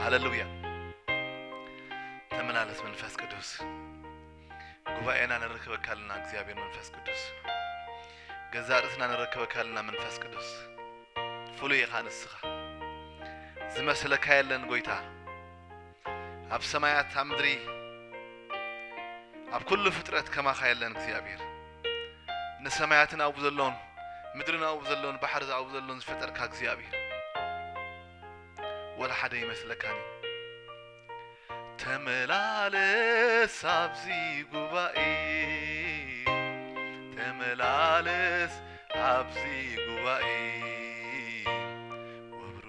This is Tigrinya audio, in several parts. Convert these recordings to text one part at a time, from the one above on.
ሃለሉያ ተመላለስ መንፈስ ቅዱስ ጉባኤና ነረክበካልና እግዚኣብሔር መንፈስ ቅዱስ ገዛ ርእስና ነረክበካልና መንፈስ ቅዱስ ፍሉይ ኢኻ ንስኻ ዝመስለካ የለን ጎይታ ኣብ ሰማያት ኣብ ምድሪ ኣብ ኩሉ ፍጥረት ከማኻ የለን እግዚኣብሔር ንሰማያትን ኣብኡ ዘሎን ምድርን ኣብኡ ዘሎን ባሕሪ ኣብኡ ዘሎን ዝፈጠርካ እግዚኣብሔር ወላ ሓደ ይመስለካኒ ተመላለስ ኣብዚ ጉባኤ ተመላለስ ኣብዚ ጉባኤ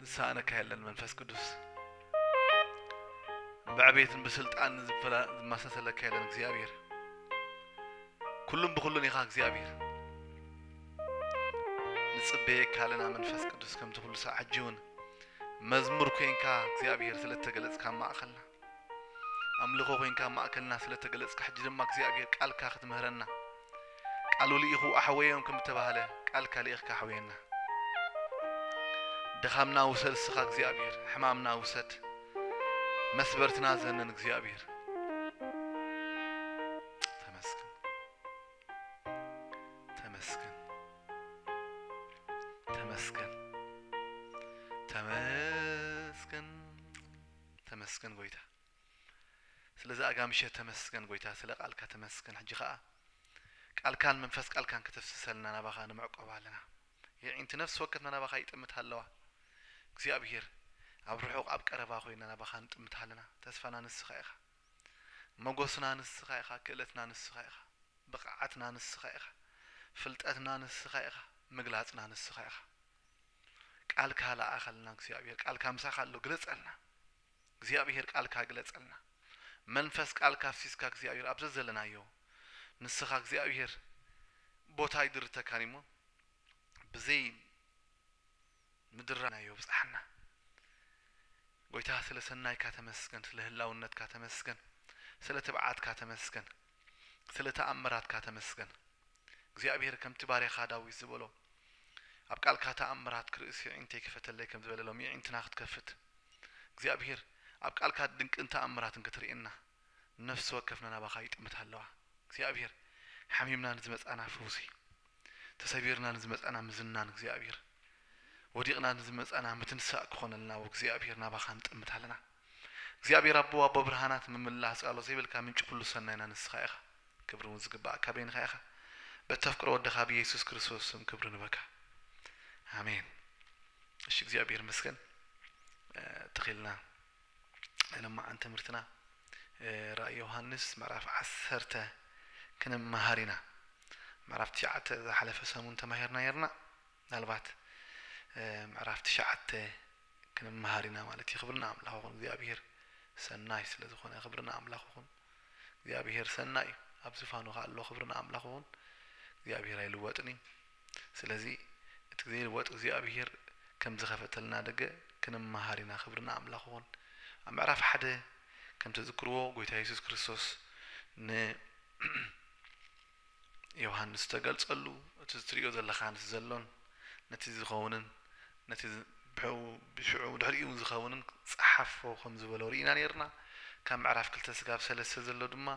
ዝሰኣነካ የለን መንፈስ ቅዱስ ብዕቤትን ብስልጣን ዝመሳሰለካ የለን እግዚኣብሔር ኩሉም ብኩሉን ኢኻ እግዚኣብሔር ንፅበየካ ኣለና መንፈስ ቅዱስ ከምቲ ኩሉ ሳዕ ሕጂ እውን መዝሙር ኮንካ እግዚኣብሔር ስለተገለፅካ ማእኸልና ኣምልኾ ኮንካ ኣብ ማእከልና ስለ ተገለጽካ ሕጂ ድማ እግዚኣብሄር ቃልካ ክትምህረና ቃሉ ልኢኹ ኣሕወዮም ከም እተባህለ ቃልካ ልኢኽካ ኣሕወየና ድኻምና ውሰድ እስኻ እግዚኣብሄር ሕማምና ውሰድ መስበርትና ዘመን እግዚኣብሄር ተመስገን ጎይታ ስለዚ ኣጋምሸት ተመስገን ጎይታ ስለ ቃልካ ተመስገን ሕጂ ከኣ ቃልካን መንፈስ ቃልካን ከተፍስሰልና ናባኻ ንምዕቆብ ኣለና የዒንቲ ነፍሲ ወከፍና ናባኻ ይጥምታ ኣለዋ እግዚኣብሄር ኣብ ርሑቕ ኣብ ቀረባ ኮይና ናባኻ ንጥምታ ኣለና ተስፋና ንስኻ ኢኻ መጎስና ንስኻ ኢኻ ክእለትና ንስኻ ኢኻ ብቕዓትና ንስኻ ኢኻ ፍልጠትና ንስኻ ኢኻ ምግላጽና ንስኻ ኢኻ ቃልካ ለኣኸልና እግዚኣብሔር ቃልካ ምሳኻ ኣሎ ግለጸልና እግዚኣብሔር ቃልካ ግለጸልና መንፈስ ቃልካ ኣፍሲስካ እግዚኣብሔር ኣብ ዘዘለናዮ ንስኻ እግዚኣብሔር ቦታ ኣይድርተካን እሞ ብዘይ ምድራናዮ ብጽሓና ጎይታ ስለ ሰናይካ ተመስገን ስለ ህላውነትካ ተመስገን ስለ ትብዓትካ ተመስገን ስለ ተኣምራትካ ተመስገን እግዚኣብሄር ከምቲ ባርያኻ ዳዊት ዝበሎ ኣብ ቃልካ ተኣምራት ክርእስ የዒንተይ ክፈተለይ ከም ዝበለ ሎሚ የዒንትና ክትከፍት እግዚኣብሄር ኣብ ቃልካ ድንቅን ተኣምራትን ክትርእየና ነፍሲ ወከፍና ናባኻ ይጥምታ ኣለዋ እግዚኣብሄር ሓሚምና ንዝመጻና ፈውሲ ተሰቢርና ንዝመጻና ምዝናን እግዚኣብሄር ወዲቕና ንዝመጻና ምትንሳእ ክኾነልና ወእግዚኣብሄር ናባኻ ንጥምት ኣለና። እግዚኣብሔር ኣቦ ኣቦ ብርሃናት ምምላህ ጻሎ ዘይብልካ ምንጪ ኩሉ ሰናይና ንስኻ ኢኻ ክብሪ ውን ዝግብኣካ በይንኻ ኢኻ በተፍቅሮ ወድኻ ብየሱስ ክርስቶስ ስም ክብሪ ንበካ ኣሜን እሺ እግዚኣብሔር ይመስገን ተኺልና ናይ ለማዓን ትምህርትና ራእይ ዮሐንስ ምዕራፍ ዓሰርተ ክንመሃር ኢና ምዕራፍ ትሽዓተ ዝሓለፈ ሰሙን ተማሂርና ነርና ምናልባት ምዕራፍ ትሽዓተ ክንመሃር ኢና ማለት እዩ ክብሪ ንኣምላኽ ይኹን እግዚኣብሄር ሰናይ ስለ ዝኾነ ክብሪ ንኣምላኽ ይኹን እግዚኣብሄር ሰናይ እዩ ኣብ ዝፋኑ ከኣ ኣሎ ክብሪ ንኣምላኽ ይኹን እግዚኣብሄር ኣይልወጥን እዩ ስለዚ እቲ ዘይልወጥ እግዚኣብሄር ከም ዝኸፈተልና ደገ ክንመሃር ኢና ክብሪ ንኣምላኽ ይኹን ኣብ ምዕራፍ ሓደ ከም ተዝክርዎ ጎይታ የሱስ ክርስቶስ ን ዮሃንስ ዝተገልጸሉ እቲ ዝትርእዮ ዘለኻ ነቲ ዘሎን ነቲ ዝኸውንን ነቲ ብሕኡ ብሽዑ ብድሕሪኡውን ዝኸውንን ጸሓፎ ከም ዝበሎ ርኢና ኔርና ካብ ምዕራፍ ክልተ ስጋብ ሰለስተ ዘሎ ድማ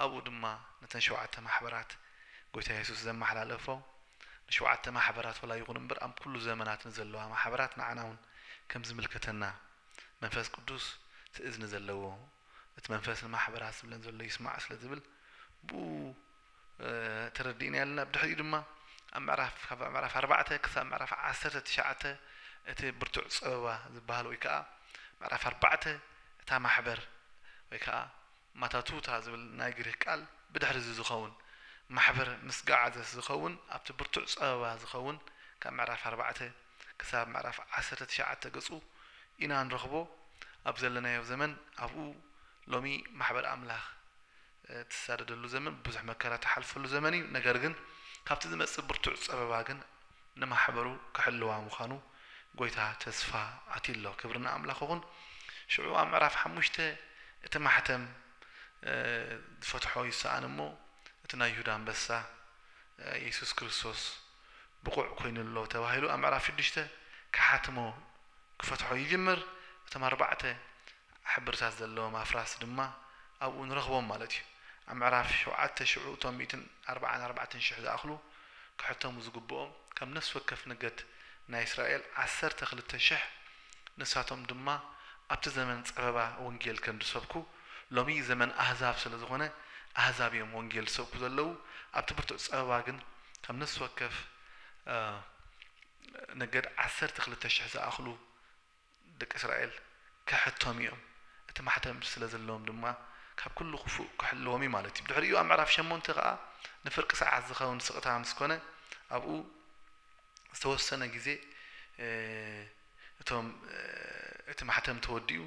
ኣብኡ ድማ ነተን ሸውዓተ ማሕበራት ጎይታ የሱስ ዘመሓላለፎ ንሸውዓተ ማሕበራት ወላ ይኹን እምበር ኣብ ኩሉ ዘመናት ንዘለዋ ማሕበራት ንዓናውን ከም ዝምልከተና መንፈስ ቅዱስ ትእዝኒ ዘለዎ እቲ መንፈስ ንማሕበራት ዝብለን ዘሎ ይስማዕ ስለ ዝብል ብኡ ተረዲእናዮ ኣለና። ብድሕሪኡ ድማ ኣብ ምዕራፍ ካብ ምዕራፍ ኣርባዕተ ክሳብ ምዕራፍ ዓሰርተ ትሽዓተ እቲ ብርቱዕ ጸበባ ዝበሃል ወይ ከኣ ምዕራፍ ኣርባዕተ እታ ማሕበር ወይ ከኣ ማታቱታ ዝብል ናይ ግሪክ ቃል ብድሕሪ እዚ ዝኸውን ማሕበር ምስ ገዓዘት ዝኸውን ኣብቲ ብርቱዕ ጸበባ ዝኸውን ካብ ምዕራፍ ኣርባዕተ ክሳብ ምዕራፍ ዓሰርተ ትሽዓተ ገጹ ኢና ንረኽቦ። ኣብ ዘለናዮ ዘመን ኣብኡ ሎሚ ማሕበር ኣምላኽ ትሳደደሉ ዘመን ብዙሕ መከራ ትሓልፈሉ ዘመን እዩ ነገር ግን ካብቲ ዝመጽእ ብርቱዕ ጸበባ ግን ንማሕበሩ ክሕልዋ ምዃኑ ጎይታ ተስፋ ኣትዩ ኣሎ ክብሪ ንኣምላኽ ኹን ሽዑ ኣብ ምዕራፍ ሓሙሽተ እቲ ማሕተም ዝፈትሖ ይሰኣን እሞ እቲ ናይ ይሁዳ ኣንበሳ የሱስ ክርስቶስ ብቑዕ ኮይኑ ኣሎ ተባሂሉ ኣብ ምዕራፍ ሽዱሽተ ክሓትሞ ክፈትሖ ይጅምር። እቶም ኣርባዕተ ሕብርታት ዘለዎም ኣፍራስ ድማ ኣብኡ ንረኽቦም ማለት እዩ። ኣብ ምዕራፍ ሸውዓተ ሽዑ እቶም ሚእትን ኣርብዓን ኣርባዕተን ሽሕ ዝኣኽሉ ክሕተሙ ዝግብኦም ካብ ነፍሲ ወከፍ ነገድ ናይ እስራኤል ዓሰርተ ክልተ ሽሕ ንሳቶም ድማ ኣብቲ ዘመን ጸበባ ወንጌል ከም ዝሰብኩ ሎሚ ዘመን ኣህዛብ ስለ ዝኾነ ኣህዛብ እዮም ወንጌል ዝሰብኩ ዘለዉ ኣብቲ ብርቱዕ ጸበባ ግን ካብ ነፍሲ ወከፍ ነገድ ዓሰርተ ክልተ ሽሕ ዝኣኽሉ ደቂ እስራኤል ከሕተሙ እዮም እቲ ማሕተም ስለ ዘለዎም ድማ ካብ ኩሉ ክፉእ ክሕልዎም እዩ ማለት እዩ ብድሕሪኡ ኣብ ምዕራፍ ሸሞንተ ከኣ ንፍርቂ ሰዓት ዝኸውን ስቕታ ምስ ኮነ ኣብኡ ዝተወሰነ ግዜ እቶም እቲ ማሕተም ተወዲኡ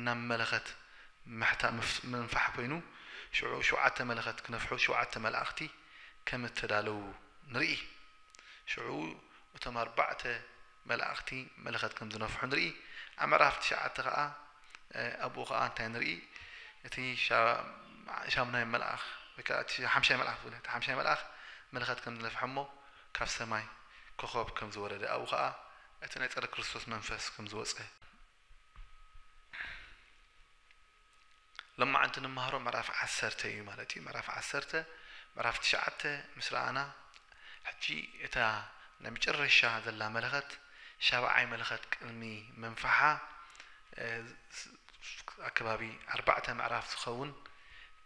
ናብ መለኸት ምሕታ ምንፋሕ ኮይኑ ሽዑ ሽውዓተ መለኸት ክነፍሑ ሽውዓተ መላእኽቲ ከም እተዳለዉ ንርኢ። ሽዑ እቶም ኣርባዕተ መላእኽቲ መለኸት ከም ዝነፍሑ ንርኢ። ኣብ ምዕራፍ ትሽዓተ ኸኣ ኣብኡ ኸኣ እንታይ ንርኢ እቲ ሻምናይ መልኣኽ ወይ ከኣ እቲ ሓምሻይ መልኣኽ ዝብለ እቲ ሓምሻይ መልኣኽ መለኸት ከም ዝነፍሐ እሞ ካብ ሰማይ ኮኾብ ከም ዝወረደ ኣብኡ ኸኣ እቲ ናይ ጸረ ክርስቶስ መንፈስ ከም ዝወጸ። ሎማዕንቲ ንማሃሮ ምዕራፍ ዓሰርተ እዩ ማለት እዩ ምዕራፍ ዓሰርተ ምዕራፍ ትሽዓተ ምስ ረኣና ሕጂ እታ ናይ መጨረሻ ዘላ መለኸት ሻብዓይ መለኸት ቅድሚ ምንፋሓ ኣብ ከባቢ ኣርባዕተ ምዕራፍ ዝኸውን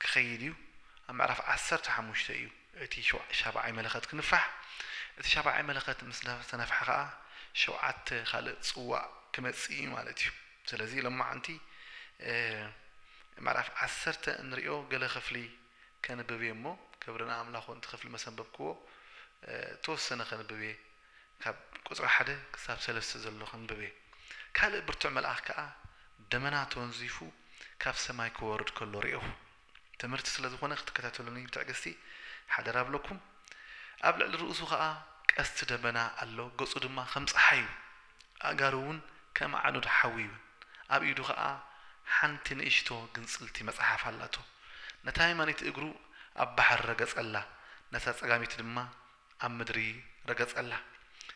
ክኸይድ እዩ ኣብ ምዕራፍ ዓሰርተ ሓሙሽተ እዩ እቲ ሻብዓይ መለኸት ክንፋሕ፣ እቲ ሻብዓይ መለኸት ምስ ተነፍሐ ከኣ ሸውዓተ ካልእ ጽዋእ ክመጽእ እዩ ማለት እዩ። ስለዚ ሎማዓንቲ ምዕራፍ ዓሰርተ እንርእዮ ገለ ክፍሊ ከንብብ እየ እሞ ክብሪ ንኣምላኽ ወንቲ ክፍሊ መሰንበብክዎ እተወሰነ ከንብብ እየ ካብ ቁጽሪ ሓደ ክሳብ ሰለስተ ዘሎ ክንብብ እየ ካልእ ብርቱዕ መልኣኽ ከኣ ደመና ተወንዚፉ ካብ ሰማይ ክወርድ ከሎ ርኤኹ። ትምህርቲ ስለ ዝኾነ ክትከታተሉኒ ብትዕግስቲ ሓደራ እብለኩም። ኣብ ልዕሊ ርእሱ ኸኣ ቀስቲ ደበና ኣሎ፣ ገጹ ድማ ከም ጸሓይ እዩ፣ ኣእጋሩ እውን ከም ኣዕኑድ ሓዊ እዩን፣ ኣብ ኢዱ ኸኣ ሓንቲ ንእሽቶ ግንጽልቲ መጽሓፍ ኣላቶ። ነታ የማነይቲ እግሩ ኣብ ባሕሪ ረገጸላ፣ ነታ ጸጋመይቲ ድማ ኣብ ምድሪ ረገጸላ።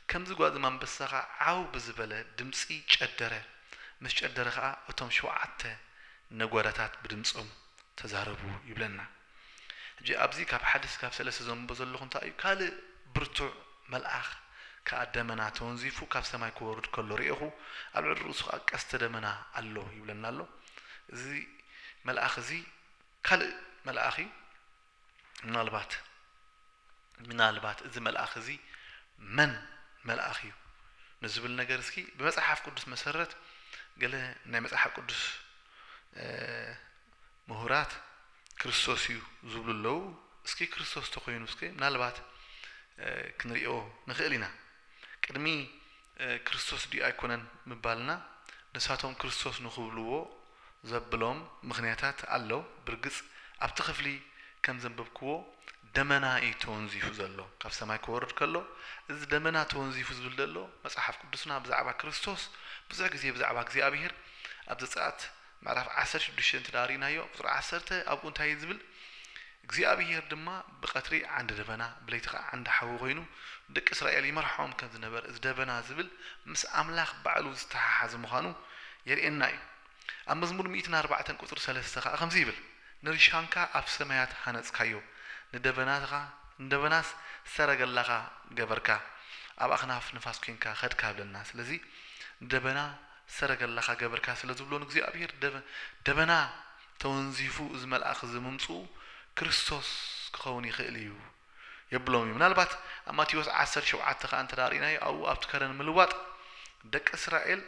ከምዚ ጓዝም ኣንበሳ ኸኣ ዓው ብዝበለ ድምጺ ጨደረ፣ ምስ ጨደረ ኸኣ እቶም ሸውዓተ ነጐራታት ብድምጾም ተዛረቡ ይብለና። ሕጂ ኣብዚ ካብ ሓደ እስካብ ሰለስተ ዘንብቦ ዘለኹ እንታይ እዩ ካልእ ብርቱዕ መልኣኽ ከኣ ደመና ተወንዚፉ ካብ ሰማይ ክወርድ ከሎ ርኤኹ፣ ኣብ ልዕሊ ርእሱ ኸኣ ቀስተ ደመና ኣሎ ይብለና ኣሎ። እዚ መልኣኽ እዚ ካልእ መልኣኽ እዩ። ምናልባት ምናልባት እዚ መልኣኽ እዚ መን መልኣኽ እዩ ንዝብል ነገር እስኪ ብመጽሓፍ ቅዱስ መሰረት ገለ ናይ መጽሓፍ ቅዱስ ምሁራት ክርስቶስ እዩ ዝብሉ ኣለዉ። እስኪ ክርስቶስ ተኮይኑ እስኪ ምናልባት ክንሪኦ ንኽእል ኢና ቅድሚ ክርስቶስ ድዩ ኣይኮነን ምባልና ንሳቶም ክርስቶስ ንኽብልዎ ዘብሎም ምኽንያታት ኣሎ ብርግጽ ኣብቲ ክፍሊ ከም ዘንበብክዎ ደመና እዩ ተወንዚፉ ዘሎ ካብ ሰማይ ክወርድ ከሎ እዚ ደመና ተወንዚፉ ዝብል ዘሎ መጽሓፍ ቅዱስና ብዛዕባ ክርስቶስ ብዙሕ ግዜ ብዛዕባ እግዚኣብሄር ኣብ ዘጸኣት ምዕራፍ ዓሰርተ ሽዱሽተ እንተ ደኣ ርኢናዮ፣ ቍጽሪ ዓሰርተ ኣብኡ እንታይ እዩ ዚብል፣ እግዚኣብሄር ድማ ብቐትሪ ዓንዲ ደበና፣ ብለይቲ ኸኣ ዓንዲ ሓዊ ዀይኑ፣ ንደቂ እስራኤል ይመርሖም ከም ዝነበረ፣ እዚ ደበና ዚብል ምስ ኣምላኽ ባዕሉ ዝተሓሓዘ ምዃኑ የርእየና እዩ። ኣብ መዝሙር ሚእትን ኣርባዕተን ቍጽሪ ሰለስተ ኸኣ ከምዚ ይብል፣ ንርሻንካ ኣብ ሰማያት ሃነጽካዮ፣ ንደበናኻ ንደበናስ ሰረገላኻ ገበርካ፣ ኣብ ኣኽናፍ ንፋስ ኴንካ ኸድካ እብለና። ስለዚ፣ ንደበና፣ ሰረገላኻ ገብርካ ስለ ዝብሎ ንእግዚኣብሄር ደበና ተወንዚፉ እዚ መልኣኽ እዚ ምምጽኡ ክርስቶስ ክኸውን ይኽእል እዩ የብሎም እዩ ምናልባት ኣብ ማቴዎስ ዓሰርተ ሸውዓተ ከኣ እንተ ርኢናዮ ኣብኡ ኣብቲ ከረን ምልዋጥ ደቂ እስራኤል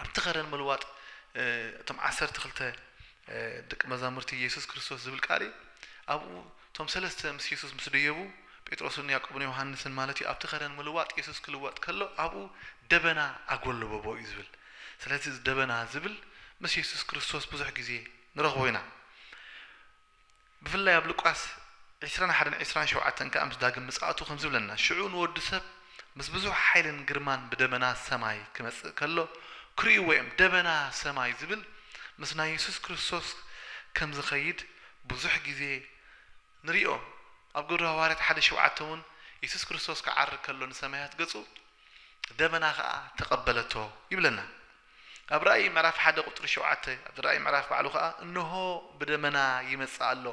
ኣብቲ ከረን ምልዋጥ እቶም ዓሰርተ ክልተ ደቂ መዛሙርቲ ኢየሱስ ክርስቶስ ዝብል ቃል እዩ ኣብኡ እቶም ሰለስተ ምስ የሱስ ምስ ደየቡ፣ ጴጥሮስን ያእቆብን ዮሃንስን ማለት እዩ፣ ኣብቲ ከረን ምልዋጥ የሱስ ክልወጥ ከሎ ኣብኡ ደበና ኣጎለበቦ እዩ ዝብል። ስለዚ እዚ ደበና ዝብል ምስ የሱስ ክርስቶስ ብዙሕ ግዜ ንረኽቦ ኢና። ብፍላይ ኣብ ሉቃስ ዕስራን ሓደን ዕስራን ሸውዓተን ከኣ ምስ ዳግም ምጽኣቱ ከምዚ ይብለና፣ ሽዑ ንወዲ ሰብ ምስ ብዙሕ ሓይልን ግርማን ብደበና ሰማይ ክመጽእ ከሎ ክርእይዎ እዮም። ደበና ሰማይ ዝብል ምስ ናይ የሱስ ክርስቶስ ከም ዝኸይድ ብዙሕ ግዜ ንሪኦ ኣብ ግብሪ ሃዋርያት ሓደ ሸውዓተ ውን የሱስ ክርስቶስ ክዓርግ ከሎ ንሰማያት ገጹ ደበና ከኣ ተቀበለቶ ይብለና ኣብ ራእይ ምዕራፍ ሓደ ቁጽሪ ሸውዓተ ኣብ ራእይ ምዕራፍ ባዕሉ ከኣ እንሆ ብደመና ይመጽእ ኣሎ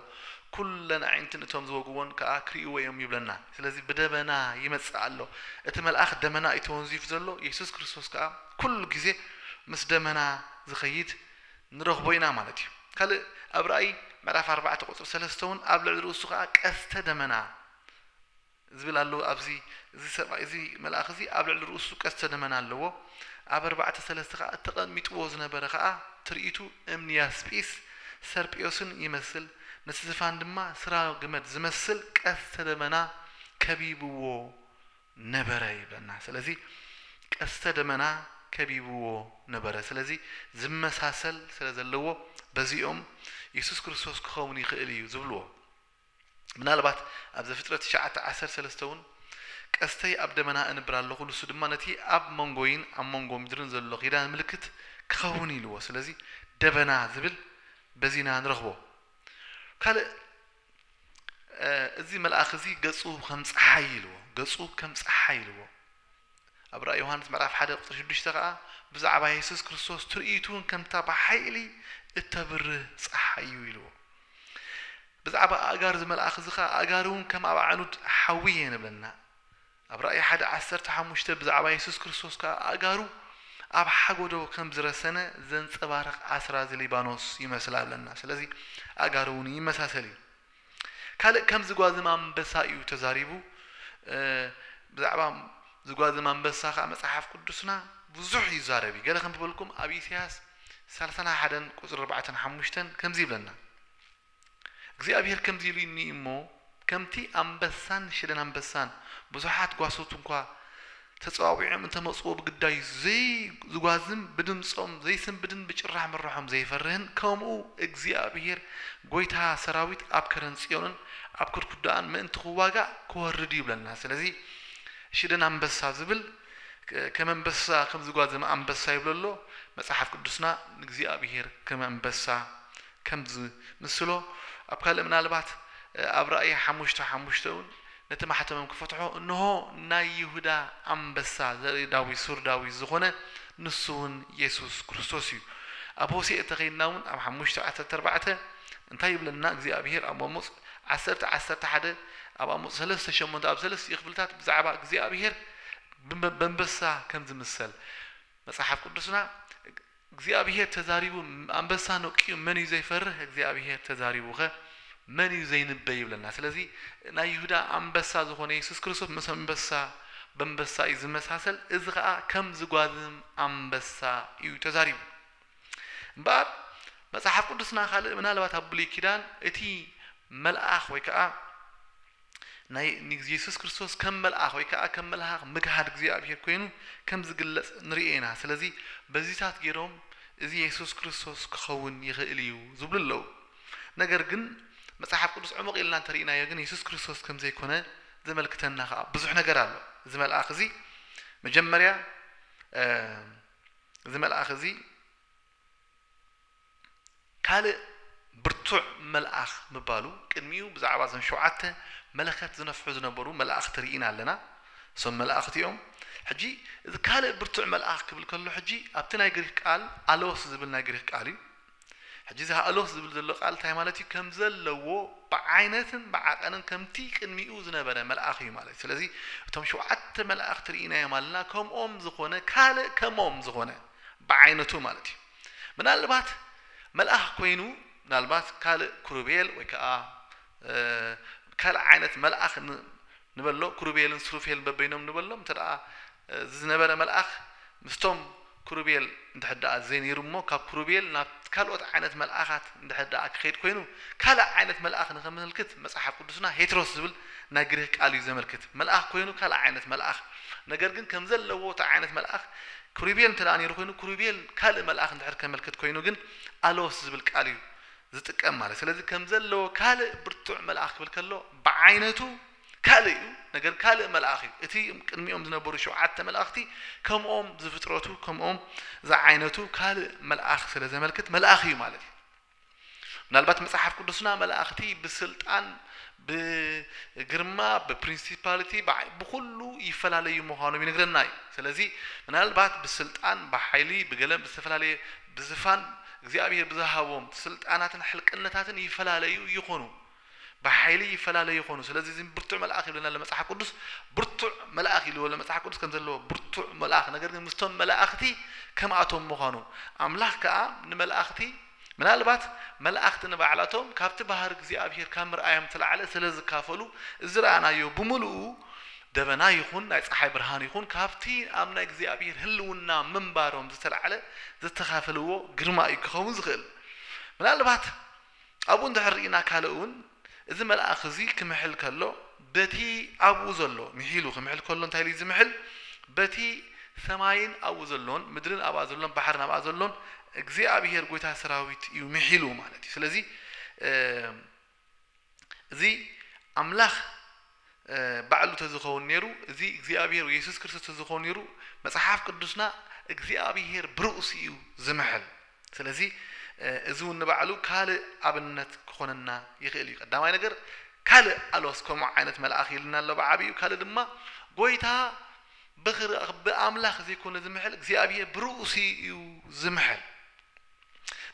ኩለን ኣዒንትን እቶም ዝወግዎን ከኣ ክሪእዎ እዮም ይብለና ስለዚ ብደበና ይመጽእ ኣሎ እቲ መልኣክ ደመና እዩ ተወንዚፉ ዘሎ የሱስ ክርስቶስ ከኣ ኩሉ ግዜ ምስ ደመና ዝከይድ ንረኽቦ ኢና ማለት እዩ። ካልእ ኣብ ራእይ ምዕራፍ ኣርባዕተ ቁጽሪ ሰለስተ ውን ኣብ ልዕሊ ርእሱ ከኣ ቀስተ ደመና ዝብል ኣለዎ ኣብዚ እዚ ሰብኣይ እዚ መልኣኽ እዚ ኣብ ልዕሊ ርእሱ ቀስተ ደመና ኣለዎ ኣብ ኣርባዕተ ሰለስተ ከኣ ተቐሚጥዎ ዝነበረ ከኣ ትርኢቱ እምኒ ያስጲስ ሰርጵዮስን ይመስል ነቲ ዝፋን ድማ ስራገመድ ዝመስል ቀስተ ደመና ከቢብዎ ነበረ ይብለና ስለዚ ቀስተ ደመና ከቢብዎ ነበረ ስለዚ ዝመሳሰል ስለ ዘለዎ በዚ እዮም የሱስ ክርስቶስ ክኸውን ይኽእል እዩ ዝብልዎ ምናልባት ኣብ ዘፍጥረት ትሽዓተ ዓሰርተ ሰለስተ እውን ቀስተይ ኣብ ደመና እንብር ኣለኹ ንሱ ድማ ነቲ ኣብ መንጎይን ኣብ መንጎ ምድርን ዘሎ ኪዳን ምልክት ክኸውን ኢልዎ ስለዚ ደበና ዝብል በዚና ንረኽቦ ካልእ እዚ መልኣኽ እዚ ገጹ ከም ጸሓይ ኢልዎ፣ ገጹ ከም ጸሓይ ኢልዎ። ኣብ ራእይ ዮሃንስ ምዕራፍ ሓደ ቁጽሪ ሽዱሽተ ከኣ ብዛዕባ የሱስ ክርስቶስ ትርኢቱ እውን ከምታ ብሓይሊ እተብርህ ጸሓይ እዩ ኢልዎ። ብዛዕባ ኣእጋር እዚ መልኣኽ እዚ ከኣ ኣእጋሩ እውን ከም ኣብ ኣዕኑድ ሓዊ እየን እብለና። ኣብ ራእይ ሓደ ዓሰርተ ሓሙሽተ ብዛዕባ የሱስ ክርስቶስ ከኣ ኣእጋሩ ኣብ ሓጎዶ ከም ዝረሰነ ዘንጸባርቕ ኣስራዚ ሊባኖስ ይመስላ ኣለና። ስለዚ ኣእጋሩ እውን ይመሳሰል እዩ። ካልእ ከም ዝጓዝም ኣንበሳ እዩ ተዛሪቡ። ብዛዕባ ዝጓዝም ኣንበሳ ከኣ መጽሓፍ ቅዱስና ብዙሕ ይዛረብ እዩ። ገለ ከንብበልኩም ኣብ ኢሳያስ ሰላሳን ሓደን ቁጽሪ ኣርባዕተን ሓሙሽተን ከምዚ ይብለና። እግዚኣብሄር ከምዚ ኢሉኒ እዩ እሞ፣ ከምቲ ኣንበሳን ሽለን ኣንበሳን ብዙሓት ጓሶት እኳ ተጸዋዊዖም እንተ መጹዎ ብግዳዩ ዘይዝጓዝም፣ ብድምጾም ዘይስንብድን ብጭራሕ ምራሖም ዘይፈርህን፣ ከምኡ እግዚኣብሄር ጐይታ ሰራዊት ኣብ ከረን ጽዮንን ኣብ ኩድኩዳኣን ምእንቲ ክዋጋእ ክወርድ እዩ ይብለና። ስለዚ ሽደን ኣንበሳ ዝብል ከም ኣንበሳ ከም ዝጓዘመ ኣንበሳ ይብሎ ኣሎ መጽሓፍ ቅዱስና ንእግዚኣብሄር ከም ኣንበሳ ከም ዝምስሎ ኣብ ካልእ ምናልባት ኣብ ራእይ ሓሙሽተ ሓሙሽተ እውን ነቲ ማሕተሞም ክፈትሖ እንሆ ናይ ይሁዳ ኣንበሳ ዘርኢ ዳዊት ሱር ዳዊት ዝኾነ ንሱ እውን የሱስ ክርስቶስ እዩ ኣብ ሆሴእ ተኸይድና እውን ኣብ ሓሙሽተ ዓሰርተ ኣርባዕተ እንታይ ይብለና እግዚኣብሄር ኣብ ኣሞጽ ዓሰርተ ዓሰርተ ሓደ ኣብ ኣሞጽ ሰለስተ ሸሞንተ ኣብ ሰለስቲኡ ክፍልታት ብዛዕባ እግዚኣብሄር በንበሳ ከም ዝምሰል መጽሓፍ ቅዱስና እግዚኣብሄር ተዛሪቡ ኣንበሳ ነቂዩ መን እዩ ዘይፈርህ እግዚኣብሄር ተዛሪቡኸ መን እዩ ዘይንበ ይብለና ስለዚ ናይ ይሁዳ ኣንበሳ ዝኾነ የሱስ ክርስቶስ ምስ ኣንበሳ በንበሳ እዩ ዝመሳሰል እዚ ኸኣ ከም ዝጓዝም ኣንበሳ እዩ ተዛሪቡ እምበኣር መጽሓፍ ቅዱስና ካልእ ምናልባት ኣብ ብሉይ ኪዳን እቲ መልኣኽ ወይ ከኣ ናይ ንግዜሱስ ክርስቶስ ከም መልኣኽ ወይ ከኣ ከም መልሃኽ ምግሃድ እግዚኣብሔር ኮይኑ ከም ዝግለጽ ንርእ ኢና ስለዚ በዚታት ጌሮም እዚ የሱስ ክርስቶስ ክኸውን ይኽእል እዩ ዝብሉ ኣለዉ ነገር ግን መጽሓፍ ቅዱስ ዕሙቕ ኢልና እንተርኢናዮ ግን የሱስ ክርስቶስ ከም ዘይኮነ ዘመልክተና ከኣ ብዙሕ ነገር ኣሎ እዚ መልኣኽ እዚ መጀመርያ እዚ መልኣኽ እዚ ካልእ ብርቱዕ መልኣኽ ምባሉ፣ ቅድሚኡ ብዛዕባ እዞም ሸውዓተ መለኸት ዝነፍሑ ዝነበሩ መላእኽቲ ርኢና ኣለና። እሶም መላእኽቲ እዮም። ሕጂ እዚ ካልእ ብርቱዕ መልኣኽ ክብል ከሎ ሕጂ ኣብቲ ናይ ግሪኽ ቃል ኣሎስ ዝብል ናይ ግሪኽ ቃል እዩ። ሕጂ እዚ ኣሎስ ዝብል ዘሎ ቃል እንታይ ማለት እዩ? ከም ዘለዎ ብዓይነትን ብዓቐንን ከምቲ ቅድሚኡ ዝነበረ መልኣኽ እዩ ማለት እዩ። ስለዚ እቶም ሸውዓተ መላእኽቲ ርኢናዮም ኣለና፣ ከምኦም ዝኾነ ካልእ ከምኦም ዝኾነ ብዓይነቱ ማለት እዩ። ምናልባት መልኣኽ ኮይኑ ምናልባት ካልእ ኩሩቤል ወይ ከኣ ካልእ ዓይነት መልኣኽ ንበሎ ኩሩቤልን ሱሩፌልን በበይኖም ንበሎም እንተ ደኣ እዚ ዝነበረ መልኣኽ ምስቶም ኩሩቤል እንድሕር ደኣ ዘይነይሩ እሞ ካብ ኩሩቤል ናብ ካልኦት ዓይነት መልኣኻት እንድሕር ደኣ ክኸይድ ኮይኑ ካልእ ዓይነት መልኣኽ ንኸመልክት መጽሓፍ ቅዱስና ሄትሮስ ዝብል ናይ ግሪኽ ቃል እዩ ዘመልክት መልኣኽ ኮይኑ ካልእ ዓይነት መልኣኽ ነገር ግን ከም ዘለዎ እቲ ዓይነት መልኣኽ ክሩቤል እንተ ነይሩ ኮይኑ ክሩቤል ካልእ መልኣኽ እንድሕር ከመልክት ኮይኑ ግን ኣሎስ ዝብል ቃል እዩ ዝጥቀም ማለት ስለዚ ከም ዘለዎ ካልእ ብርቱዕ መልኣኽ ክብል ከሎ ብዓይነቱ ካልእ እዩ ነገር ካልእ መልኣኽ እዩ እቲ ቅድሚኦም ዝነበሩ ሸውዓተ መልኣኽቲ ከምኦም ዝፍጥረቱ ከምኦም ዝዓይነቱ ካልእ መልኣኽ ስለ ዘመልክት መልኣኽ እዩ ማለት እዩ ምናልባት መጽሓፍ ቅዱስና መላእኽቲ ብስልጣን፣ ብግርማ፣ ብፕሪንሲፓሊቲ፣ ብዓይ፣ ብኹሉ ይፈላለዩ ምዃኖም ይነግረና እዩ። ስለዚ ምናልባት ብስልጣን፣ ብሓይሊ፣ ብገለን ብዝተፈላለየ ብዝፋን እግዚኣብሔር ብዝሃቦም ስልጣናትን ሕልቅነታትን ይፈላለዩ ይኾኑ። ብሓይሊ ይፈላለዩ ይኾኑ ስለዚ እዚ ብርቱዕ መልኣኽ ይብለና ኣሎ መጽሓፍ ቅዱስ ብርቱዕ መልኣኽ ኢልዎ ኣሎ መጽሓፍ ቅዱስ ከም ዘለዎ ብርቱዕ መልኣኽ ነገር ግን ምስቶም መላእኽቲ ከምኣቶም ምዃኑ ኣምላኽ ከኣ ንመላእኽቲ ምናልባት መላእኽቲ ንባዕላቶም ካብቲ ባህሪ እግዚኣብሄር ካብ ምርኣዮም እተላዕለ ስለ ዝካፈሉ ዝረኣናዮ ብምልኡ ደበና ይኹን ናይ ጸሓይ ብርሃን ይኹን ካብቲ ኣብ ናይ እግዚኣብሄር ህልውና ምንባሮም ዝተላዕለ ዝተካፈልዎ ግርማ እዩ ክኸውን ዝኽእል ምናልባት ኣብኡ እንድሕር ርኢና ካልእ እውን እዚ መልኣኽ እዚ ክምሕል ከሎ በቲ ኣብኡ ዘሎ ምሒሉ ክምሕል ከሎ እንታይ ኢሉ እዩ ዝምሕል በቲ ሰማይን ኣብኡ ዘሎን ምድርን ኣብኣ ዘሎን ባሕርን ኣብኣ ዘሎን እግዚኣብሄር ጐይታ ሰራዊት እዩ ምሒሉ ማለት እዩ ስለዚ እዚ ኣምላኽ ባዕሉ ተዝኸውን ኔሩ እዚ እግዚኣብሄር ወይ የሱስ ክርስቶስ ተዝኾን ኔሩ መጽሓፍ ቅዱስና እግዚኣብሄር ብርእሱ እዩ ዝምሕል ስለዚ እዚ ውን ንባዕሉ ካልእ ኣብነት ክኾነና ይኽእል እዩ ቀዳማይ ነገር ካልእ ኣሎስ ከምኡ ዓይነት መልኣኽ ኢልና ኣሎ ብዓቢኡ ካልእ ድማ ጎይታ ብኣምላኽ ዘይኮነ ዝምሕል እግዚኣብሄር ብርእሱ እዩ ዝምሕል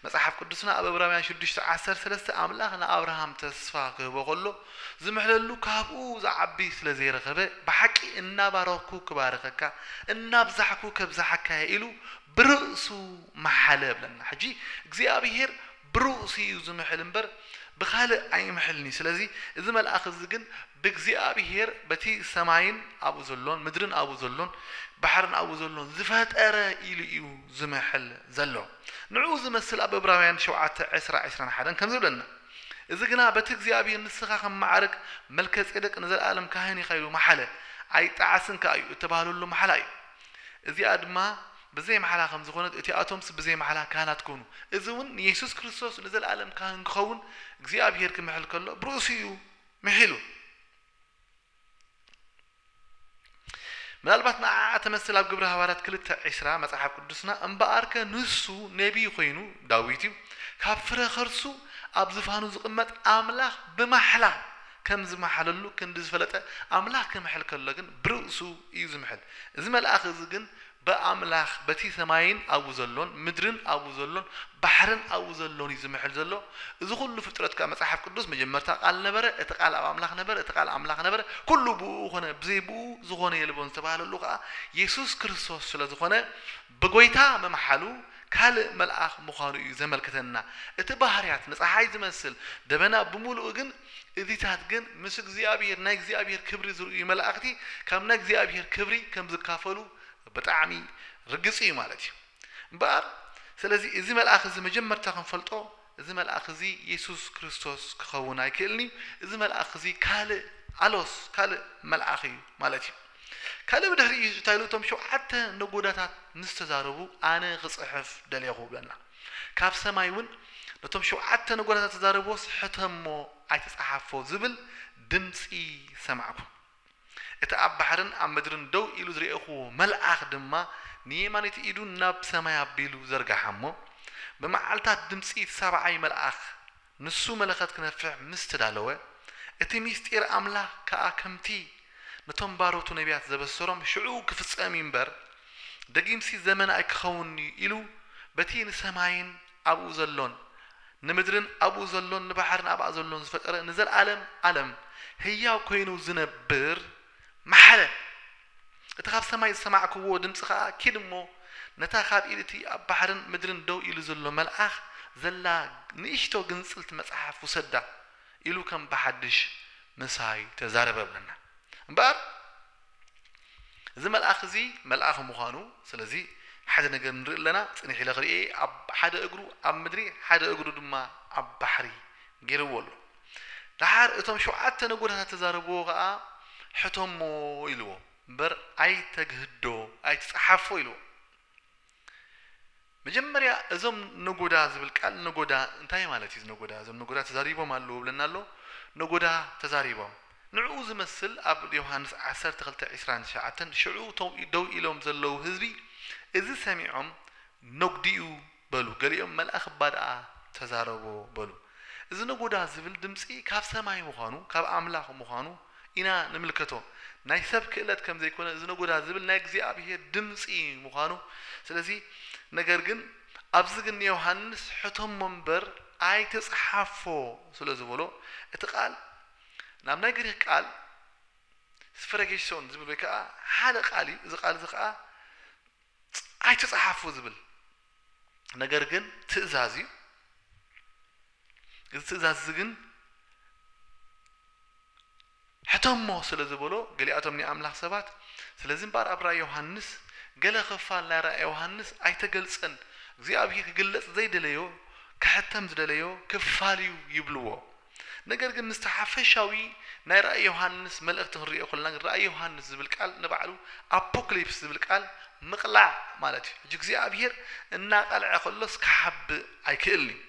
መጽሓፍ ቅዱስና ኣብ እብራውያን ሽዱሽተ ዓሰርተ ሰለስተ ኣምላኽ ንኣብርሃም ተስፋ ክህቦ ከሎ ዝምሕለሉ ካብኡ ዝዓቢ ስለ ዘይረኸበ ብሓቂ እናባረኽኩ ክባርኸካ እናብዛሕኩ ከብዝሓካ እየ ኢሉ ብርእሱ መሓለ እብለና ሕጂ እግዚኣብሄር ብርእሱ እዩ ዝምሕል እምበር ብኻልእ ኣይምሕልን እዩ ስለዚ እዚ መልኣኽ እዚ ግን ብእግዚኣብሄር በቲ ሰማይን ኣብኡ ዘሎን ምድርን ኣብኡ ዘሎን ባሕርን ኣብኡ ዘሎን ዝፈጠረ ኢሉ እዩ ዝምሕል ዘሎ። ንዕኡ ዝመስል ኣብ እብራውያን ሸውዓተ ዕስራ፣ ዕስራን ሓደን ከምዚ ይብለና፣ እዚ ግና በቲ እግዚኣብሔር ንስኻ ከም መዓርግ መልከጼደቅ ንዘለዓለም ካህን ኢኻ ኢሉ መሓለ፣ ኣይጠዓስን ከኣ እዩ፣ እተባህለሉ ማሕላ እዩ። እዚኣ ድማ ብዘይ ማሕላ ከም ዝኾነት እቲኣቶምስ ብዘይ ማሕላ ካህናት ኮኑ። እዚ እውን ንየሱስ ክርስቶስ ንዘለዓለም ካህን ክኸውን እግዚኣብሔር ክምሕል ከሎ ብርእሱ እዩ ምሒሉ። ምናልባት ንዓኣ ተመሰል ኣብ ግብሪ ሃዋርያት ክልተ ዕስራ መጽሓፍ ቅዱስና እምበኣርከ ንሱ ነቢይ ኮይኑ ዳዊት እዩ ካብ ፍረ ከርሱ ኣብ ዝፋኑ ዝቅመጥ ኣምላኽ ብማሕላ ከም ዝማሓለሉ ክንዲ ዝፈለጠ ኣምላኽ ክምሕል ከሎ ግን ብርእሱ እዩ ዝምሕል እዚ መልኣኽ እዚ ግን ብኣምላኽ በቲ ሰማይን ኣብኡ ዘሎን፣ ምድርን ኣብኡ ዘሎን፣ ባሕርን ኣብኡ ዘሎን እዩ ዝምሕል ዘሎ። እዚ ዅሉ ፍጥረት ከኣ መጽሓፍ ቅዱስ መጀመርታ ቓል ነበረ፣ እቲ ቓል ኣብ ኣምላኽ ነበረ፣ እቲ ቓል ኣምላኽ ነበረ፣ ኵሉ ብእኡ ዀነ፣ ብዘይ ብእኡ ዝዀነ የልቦን ዝተባህለሉ ኸኣ የሱስ ክርስቶስ ስለ ዝዀነ ብጐይታ ምምሓሉ ካልእ መልኣኽ ምዃኑ እዩ ዘመልክተና። እቲ ባህርያት ንጸሓይ ዝመስል ደበና ብምሉኡ ግን እዚታት ግን ምስ እግዚኣብሄር ናይ እግዚኣብሄር ክብሪ ዝርእዩ መላእኽቲ ካብ ናይ እግዚኣብሄር ክብሪ ከም ዝካፈሉ ብጣዕሚ ርግጽ እዩ ማለት እዩ። እምበኣር ስለዚ እዚ መልኣኽ እዚ መጀመርታ ክንፈልጦ እዚ መልኣኽ እዚ የሱስ ክርስቶስ ክኸውን ኣይክእልን እዩ። እዚ መልኣኽ እዚ ካልእ ኣሎስ ካልእ መልኣኽ እዩ ማለት እዩ። ካልእ ብድሕሪኡ እንታይ ኢሉ እቶም ሸውዓተ ነጎዳታት ምስ ተዛረቡ ኣነ ክጽሕፍ ደሌኹ እብለና። ካብ ሰማይ እውን ነቶም ሸውዓተ ነጐራታት ተዛረብዎስ ሕተ እሞ ኣይትጸሓፎ ዝብል ድምጺ ሰማዕኩ። እቲ ኣብ ባሕርን ኣብ ምድርን ደው ኢሉ ዝርኤኹዎ መልኣኽ ድማ ንየማነይቲ ኢዱ ናብ ሰማይ ኣቢሉ ዘርግሓ እሞ፣ ብመዓልታት ድምጺ እቲ ሳብዓይ መልኣኽ ንሱ መለኸት ክነፍሕ ምስ ተዳለወ፣ እቲ ምሥጢር ኣምላኽ ከኣ ከምቲ ነቶም ባሮቱ ነቢያት ዘበሠሮም ሽዑ ክፍጸም እዩ እምበር፣ ደጊምሲ ዘመን ኣይክኸውንን እዩ ኢሉ በቲ ንሰማይን ኣብኡ ዘሎን፣ ንምድርን ኣብኡ ዘሎን ንባሕርን ኣብኣ ዘሎን ዝፈጠረ ንዘለዓለም ዓለም ሕያው ኮይኑ ዝነብር መሓለ። እቲ ኻብ ሰማይ ዝሰማዕክዎ ድምፂ ኸዓ፣ ኪድ እሞ፣ ነታ ኻብ ኢድ እቲ ኣብ ባሕርን ምድርን ደው ኢሉ ዘሎ መልኣኽ ዘላ ንእሽቶ ግንፅልቲ መፅሓፍ ውሰዳ፣ ኢሉ ከም ብሓድሽ ምሳይ ተዛረበ በለና። እምበኣር፣ እዚ መልኣኽ እዚ መልኣኽ ምዃኑ፣ ስለዚ ሓደ ነገር ንርኢ ኣለና፣ ፅንሕ ኢለ ኽርእየ፣ ኣብ ሓደ እግሩ ኣብ ምድሪ ሓደ እግሩ ድማ ኣብ ባሕሪ ገይርዎ ኣሎ። ደሓር እቶም ሸውዓተ ነጎዳታት ተዛረብዎ ከኣ ሕቶሞ ኢልዎ እምበር ኣይተግህዶ ኣይትጸሓፎ ኢልዎ። መጀመርያ እዞም ነጎዳ ዝብል ቃል ነጎዳ እንታይ ማለት እዩ እዚ ነጎዳ እዞም ነጎዳ ተዛሪቦም ኣለዉ ይብለና ኣሎ ነጎዳ ተዛሪቦም ንዕኡ ዝመስል ኣብ ዮሃንስ ዓሰርተ ክልተ ዕስራን ትሽዓተን ሽዑ እቶም ደው ኢሎም ዘለዉ ህዝቢ እዚ ሰሚዖም ነጉድኡ በሉ ገሊኦም መልኣኽ እባ ደኣ ተዛረቦ በሉ እዚ ነጎዳ ዝብል ድምጺ ካብ ሰማይ ምዃኑ ካብ ኣምላኽ ምዃኑ ኢና ንምልከቶ ናይ ሰብ ክእለት ከም ዘይኮነ እዚ ነጎዳ ዝብል ናይ እግዚኣብሄር ድምጺ ምዃኑ ስለዚ ነገር ግን ኣብዚ ግን ንዮሃንስ ሕተሞ እምበር ኣይትጽሓፎ ስለ ዝበሎ እቲ ቃል ናብ ናይ ግሪኽ ቃል ስፈረጌሶን ዝብል ወይ ከኣ ሓደ ቃል እዩ እዚ ቃል እዚ ከኣ ኣይትጽሓፉ ዝብል ነገር ግን ትእዛዝ እዩ። እዚ ትእዛዝ እዚ ግን ሕተሞ ስለ ዝበሎ ገሊኣቶም ናይ ኣምላኽ ሰባት ስለዚ እምበኣር ኣብ ራእይ ዮሃንስ ገለ ክፋል ናይ ራእይ ዮሃንስ ኣይተገልጸን እግዚኣብሄር ክግለጽ ዘይደለዮ ክሕተም ዝደለዮ ክፋል እዩ ይብልዎ። ነገር ግን ምስቲ ሓፈሻዊ ናይ ራእይ ዮሃንስ መልእኽቲ ክንርእዮ ከለና ግን ራእይ ዮሃንስ ዝብል ቃል ንባዕሉ ኣፖክሊፕስ ዝብል ቃል ምቕላዕ ማለት እዩ። ሕጂ እግዚኣብሄር እናቐልዐ ከሎስ ክሓብእ ኣይክእልን እዩ።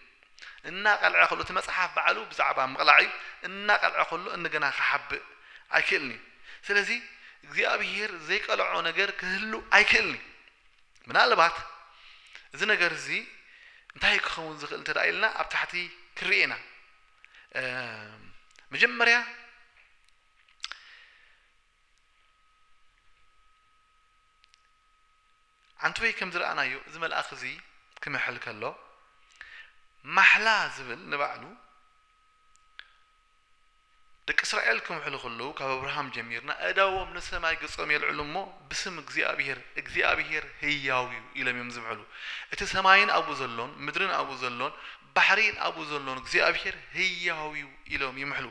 እናቐልዐ ከሎ እቲ መጽሓፍ ባዕሉ ብዛዕባ ምቕላዕ እዩ። እናቐልዐ ከሎ እንደገና ክሓብእ ኣይክእልን እዩ። ስለዚ እግዚኣብሄር ዘይቀልዖ ነገር ክህሉ ኣይክእልን እዩ። ምናልባት እዚ ነገር እዚ እንታይ ክኸውን ዝኽእል እንተ ደኣ ኢልና ኣብ ታሕቲ ክንርኢ ኢና። መጀመርያ ኣንትወይ ከም ዝረኣናዮ እዚ መልኣኽ እዚ ክምሕል ከሎ ማሕላ ዝብል ንባዕሉ ደቂ እስራኤል ክምሕሉ ከለዉ ካብ ኣብርሃም ጀሚርና ኣእዳዎም ንሰማይ ገጾም የልዕሉ እሞ ብስም እግዚኣብሄር እግዚኣብሄር ህያው እዩ ኢሎም እዮም ዝምሕሉ እቲ ሰማይን ኣብኡ ዘሎን ምድርን ኣብኡ ዘሎን ባሕሪን ኣብኡ ዘሎን እግዚኣብሄር ህያው እዩ ኢሎም ይምሕሉ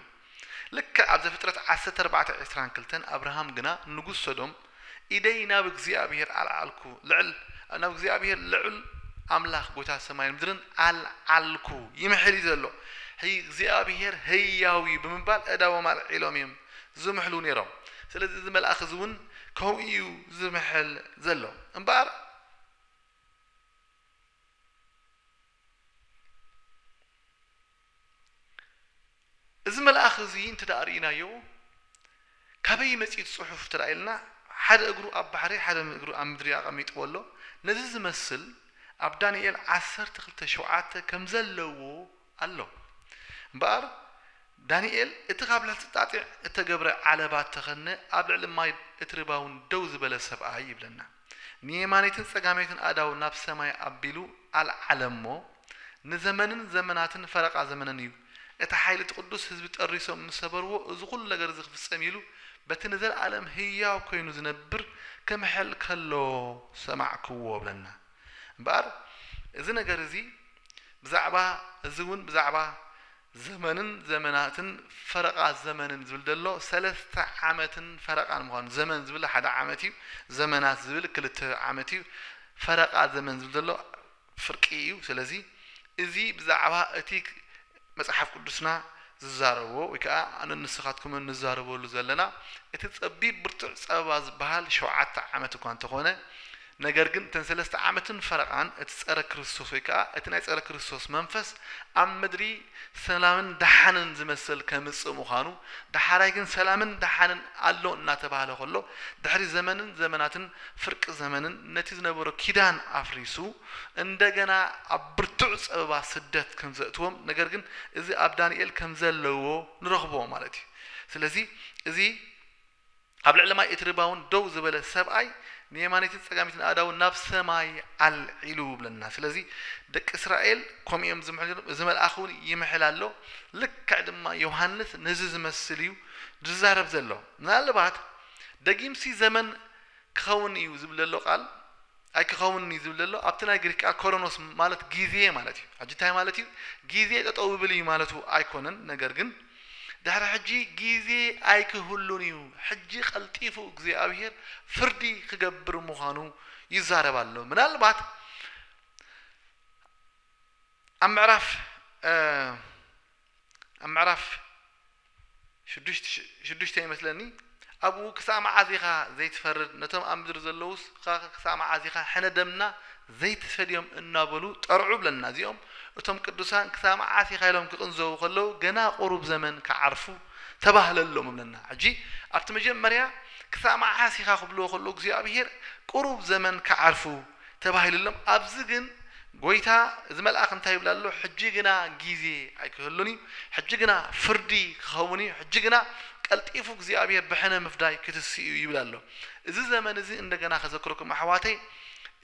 ልክዕ ኣብ ዘፍጥረት ዓሰርተ ኣርባዕተ ዕስራን ክልተን ኣብርሃም ግና ንጉስ ሰዶም ኢደይ ናብ እግዚኣብሄር ኣልዓልኩ፣ ልዕል፣ ናብ እግዚኣብሄር ልዑል ኣምላኽ ጐይታ ሰማይን ምድርን ኣልዓልኩ ይምሕል እዩ ዘሎ። ሕጂ እግዚኣብሄር ህያው እዩ ብምባል ኣእዳዎም ኣልዒሎም እዮም ዝምሕሉ ነይሮም። ስለዚ እዚ መልኣኽ እዚ እውን ከምኡ እዩ ዝምሕል ዘሎ። እምበኣር፣ እዚ መልኣኽ እዚ እንተ ርኢናዮ ካበይ መጺኡ እቲ ጽሑፍ እንተ ኢልና ሓደ እግሩ ኣብ ባሕሪ ሓደ እግሩ ኣብ ምድሪ ኣቐሚጥዎ ኣሎ ነዚ ዝመስል ኣብ ዳንኤል ዓሰርተ ክልተ ሸውዓተ ከም ዘለዎ ኣሎ እምበኣር ዳንኤል እቲ ካብ ልዕልቲ ጣጢዕ እተገብረ ዓለባ እተኸድነ ኣብ ልዕሊ ማይ እትሪ ባውን ደው ዝበለ ሰብኣይ ይብለና። ንየማነይትን ጸጋመይትን ኣእዳዉ ናብ ሰማይ ኣቢሉ ኣልዓለ እሞ፣ ንዘመንን ዘመናትን ፈረቓ ዘመንን እዩ፣ እቲ ሓይሊ እቲ ቅዱስ ህዝቢ ጠሪሶም ምስ ሰበርዎ እዚ ኹሉ ነገር እዚ ክፍጸም እዩ ኢሉ በቲ ንዘልኣለም ህያው ኮይኑ ዝነብር ክምሕል ከሎ ሰማዕክዎ እብለና እምበኣር እዚ ነገር እዚ ብዛዕባ እዚ እውን ብዛዕባ ዘመንን ዘመናትን ፈረቓ ዘመንን ዝብል ዘሎ ሰለስተ ዓመትን ፈረቓን ምዃኑ ዘመን ዝብል ሓደ ዓመት እዩ ዘመናት ዝብል ክልተ ዓመት እዩ ፈረቓ ዘመን ዝብል ዘሎ ፍርቂ እዩ ስለዚ እዚ ብዛዕባ እቲ መጽሓፍ ቅዱስና ዝዛረቦ ወይ ከኣ ኣነ ንስኻትኩምን ንዛረበሉ ዘለና እቲ ጸቢብ ብርቱዕ ጸበባ ዝበሃል ሸውዓተ ዓመት እኳ እንተኾነ ነገር ግን እተን ሰለስተ ዓመትን ፈረቓን እቲ ጸረ ክርስቶስ ወይ ከኣ እቲ ናይ ጸረ ክርስቶስ መንፈስ ኣብ ምድሪ ሰላምን ደሓንን ዝመስል ከምጽእ ምዃኑ ደሓራይ ግን ሰላምን ደሓንን ኣሎ እናተባህለ ከሎ ድሕሪ ዘመንን ዘመናትን ፍርቂ ዘመንን ነቲ ዝነበሮ ኪዳን ኣፍሪሱ እንደገና ኣብ ብርቱዕ ጸበባ ስደት ከምዘእትዎም ነገር ግን እዚ ኣብ ዳንኤል ከምዘለዎ ንረኽቦ ማለት እዩ ስለዚ እዚ ኣብ ልዕሊ ማይ እቲ ርባውን ደው ዝበለ ሰብኣይ ንየማነይትን ጸጋመይትን ኣእዳዉ ናብ ሰማይ ኣልዒሉ ይብለና ስለዚ ደቂ እስራኤል ከምኡ እዮም ዝምሕሉ ነይሮም እዚ መልኣኽ እውን ይምሕል ኣሎ ልክዕ ድማ ዮሃንስ ነዚ ዝመስል እዩ ዝዛረብ ዘሎ ምናልባት ደጊምሲ ዘመን ክኸውን እዩ ዝብል ዘሎ ቃል ኣይክኸውንን እዩ ዝብል ዘሎ ኣብቲ ናይ ግሪክ ከኣ ኮሮኖስ ማለት ጊዜ ማለት እዩ ሕጂ እንታይ ማለት እዩ ጊዜ ጠጠው ይብል እዩ ማለቱ ኣይኮነን ነገር ግን ድሕሪ ሕጂ ጊዜ ኣይክህሉን እዩ ሕጂ ቀልጢፉ እግዚኣብሄር ፍርዲ ክገብር ምዃኑ ይዛረብ ኣሎ ምናልባት ኣብ ምዕራፍ ኣብ ምዕራፍ ሽዱሽተ ይመስለኒ ኣብኡ ክሳዕ መዓዝ ኢኻ ዘይትፈርድ ነቶም ኣብ ምድሪ ዘለዉስ ኸ ክሳዕ መዓዝ ኢኻ ሕነ ደምና ዘይትፈድዮም እናበሉ ጠርዑ ይብለና እዚኦም እቶም ቅዱሳን ክሳዕ መዓስ ኢኻ ኢሎም ክቕንዘዉ ከለዉ ገና ቁሩብ ዘመን ክዓርፉ ተባህለሎም ይብለና ሕጂ ኣብቲ መጀመርያ ክሳዕ መዓስ ኢኻ ክብልዎ ከለዉ እግዚኣብሄር ቁሩብ ዘመን ክዓርፉ ተባሂሉሎም ኣብዚ ግን ጎይታ እዚ መልኣኽ እንታይ ይብል ኣሎ ሕጂ ግና ጊዜ ኣይክህሉን እዩ ሕጂ ግና ፍርዲ ክኸውን እዩ ሕጂ ግና ቀልጢፉ እግዚኣብሄር ብሕነ ምፍዳይ ክትስእ እዩ ይብል ኣሎ እዚ ዘመን እዚ እንደገና ከዘክረኩም ኣሕዋተይ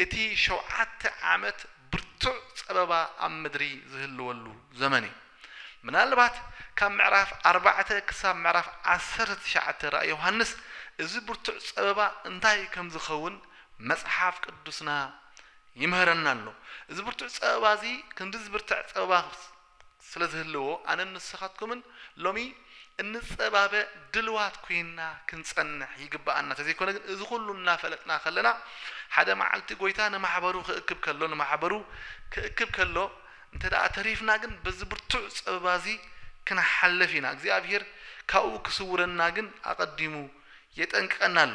እቲ ሸውዓተ ዓመት ብርቱዕ ጸበባ ኣብ ምድሪ ዝህልወሉ ዘመን እዩ። ምናልባት ካብ ምዕራፍ ኣርባዕተ ክሳብ ምዕራፍ ዓሰርተ ትሽዓተ ራእይ ዮሃንስ እዚ ብርቱዕ ጸበባ እንታይ ከም ዝኸውን መጽሓፍ ቅዱስና ይምህረና ኣሎ። እዚ ብርቱዕ ጸበባ እዚ ክንዲ ዝብርትዕ ጸበባ ስለ ዝህልዎ ኣነን ንስኻትኩምን ሎሚ እንጸባበ ድልዋት ኮይንና ክንጸንሕ ይግብኣና። ተዘይኮነ ግን እዚ ኩሉ እናፈለጥና ከለና ሓደ መዓልቲ ጎይታ ንማሕበሩ ክእክብ ከሎ ንማሕበሩ ክእክብ ከሎ እንተደኣ ተሪፍና ግን በዚ ብርቱዕ ጸበባ እዚ ክንሓልፍ ኢና። እግዚኣብሄር ካብኡ ክስውረና ግን ኣቐዲሙ የጠንቅቐና ኣሎ።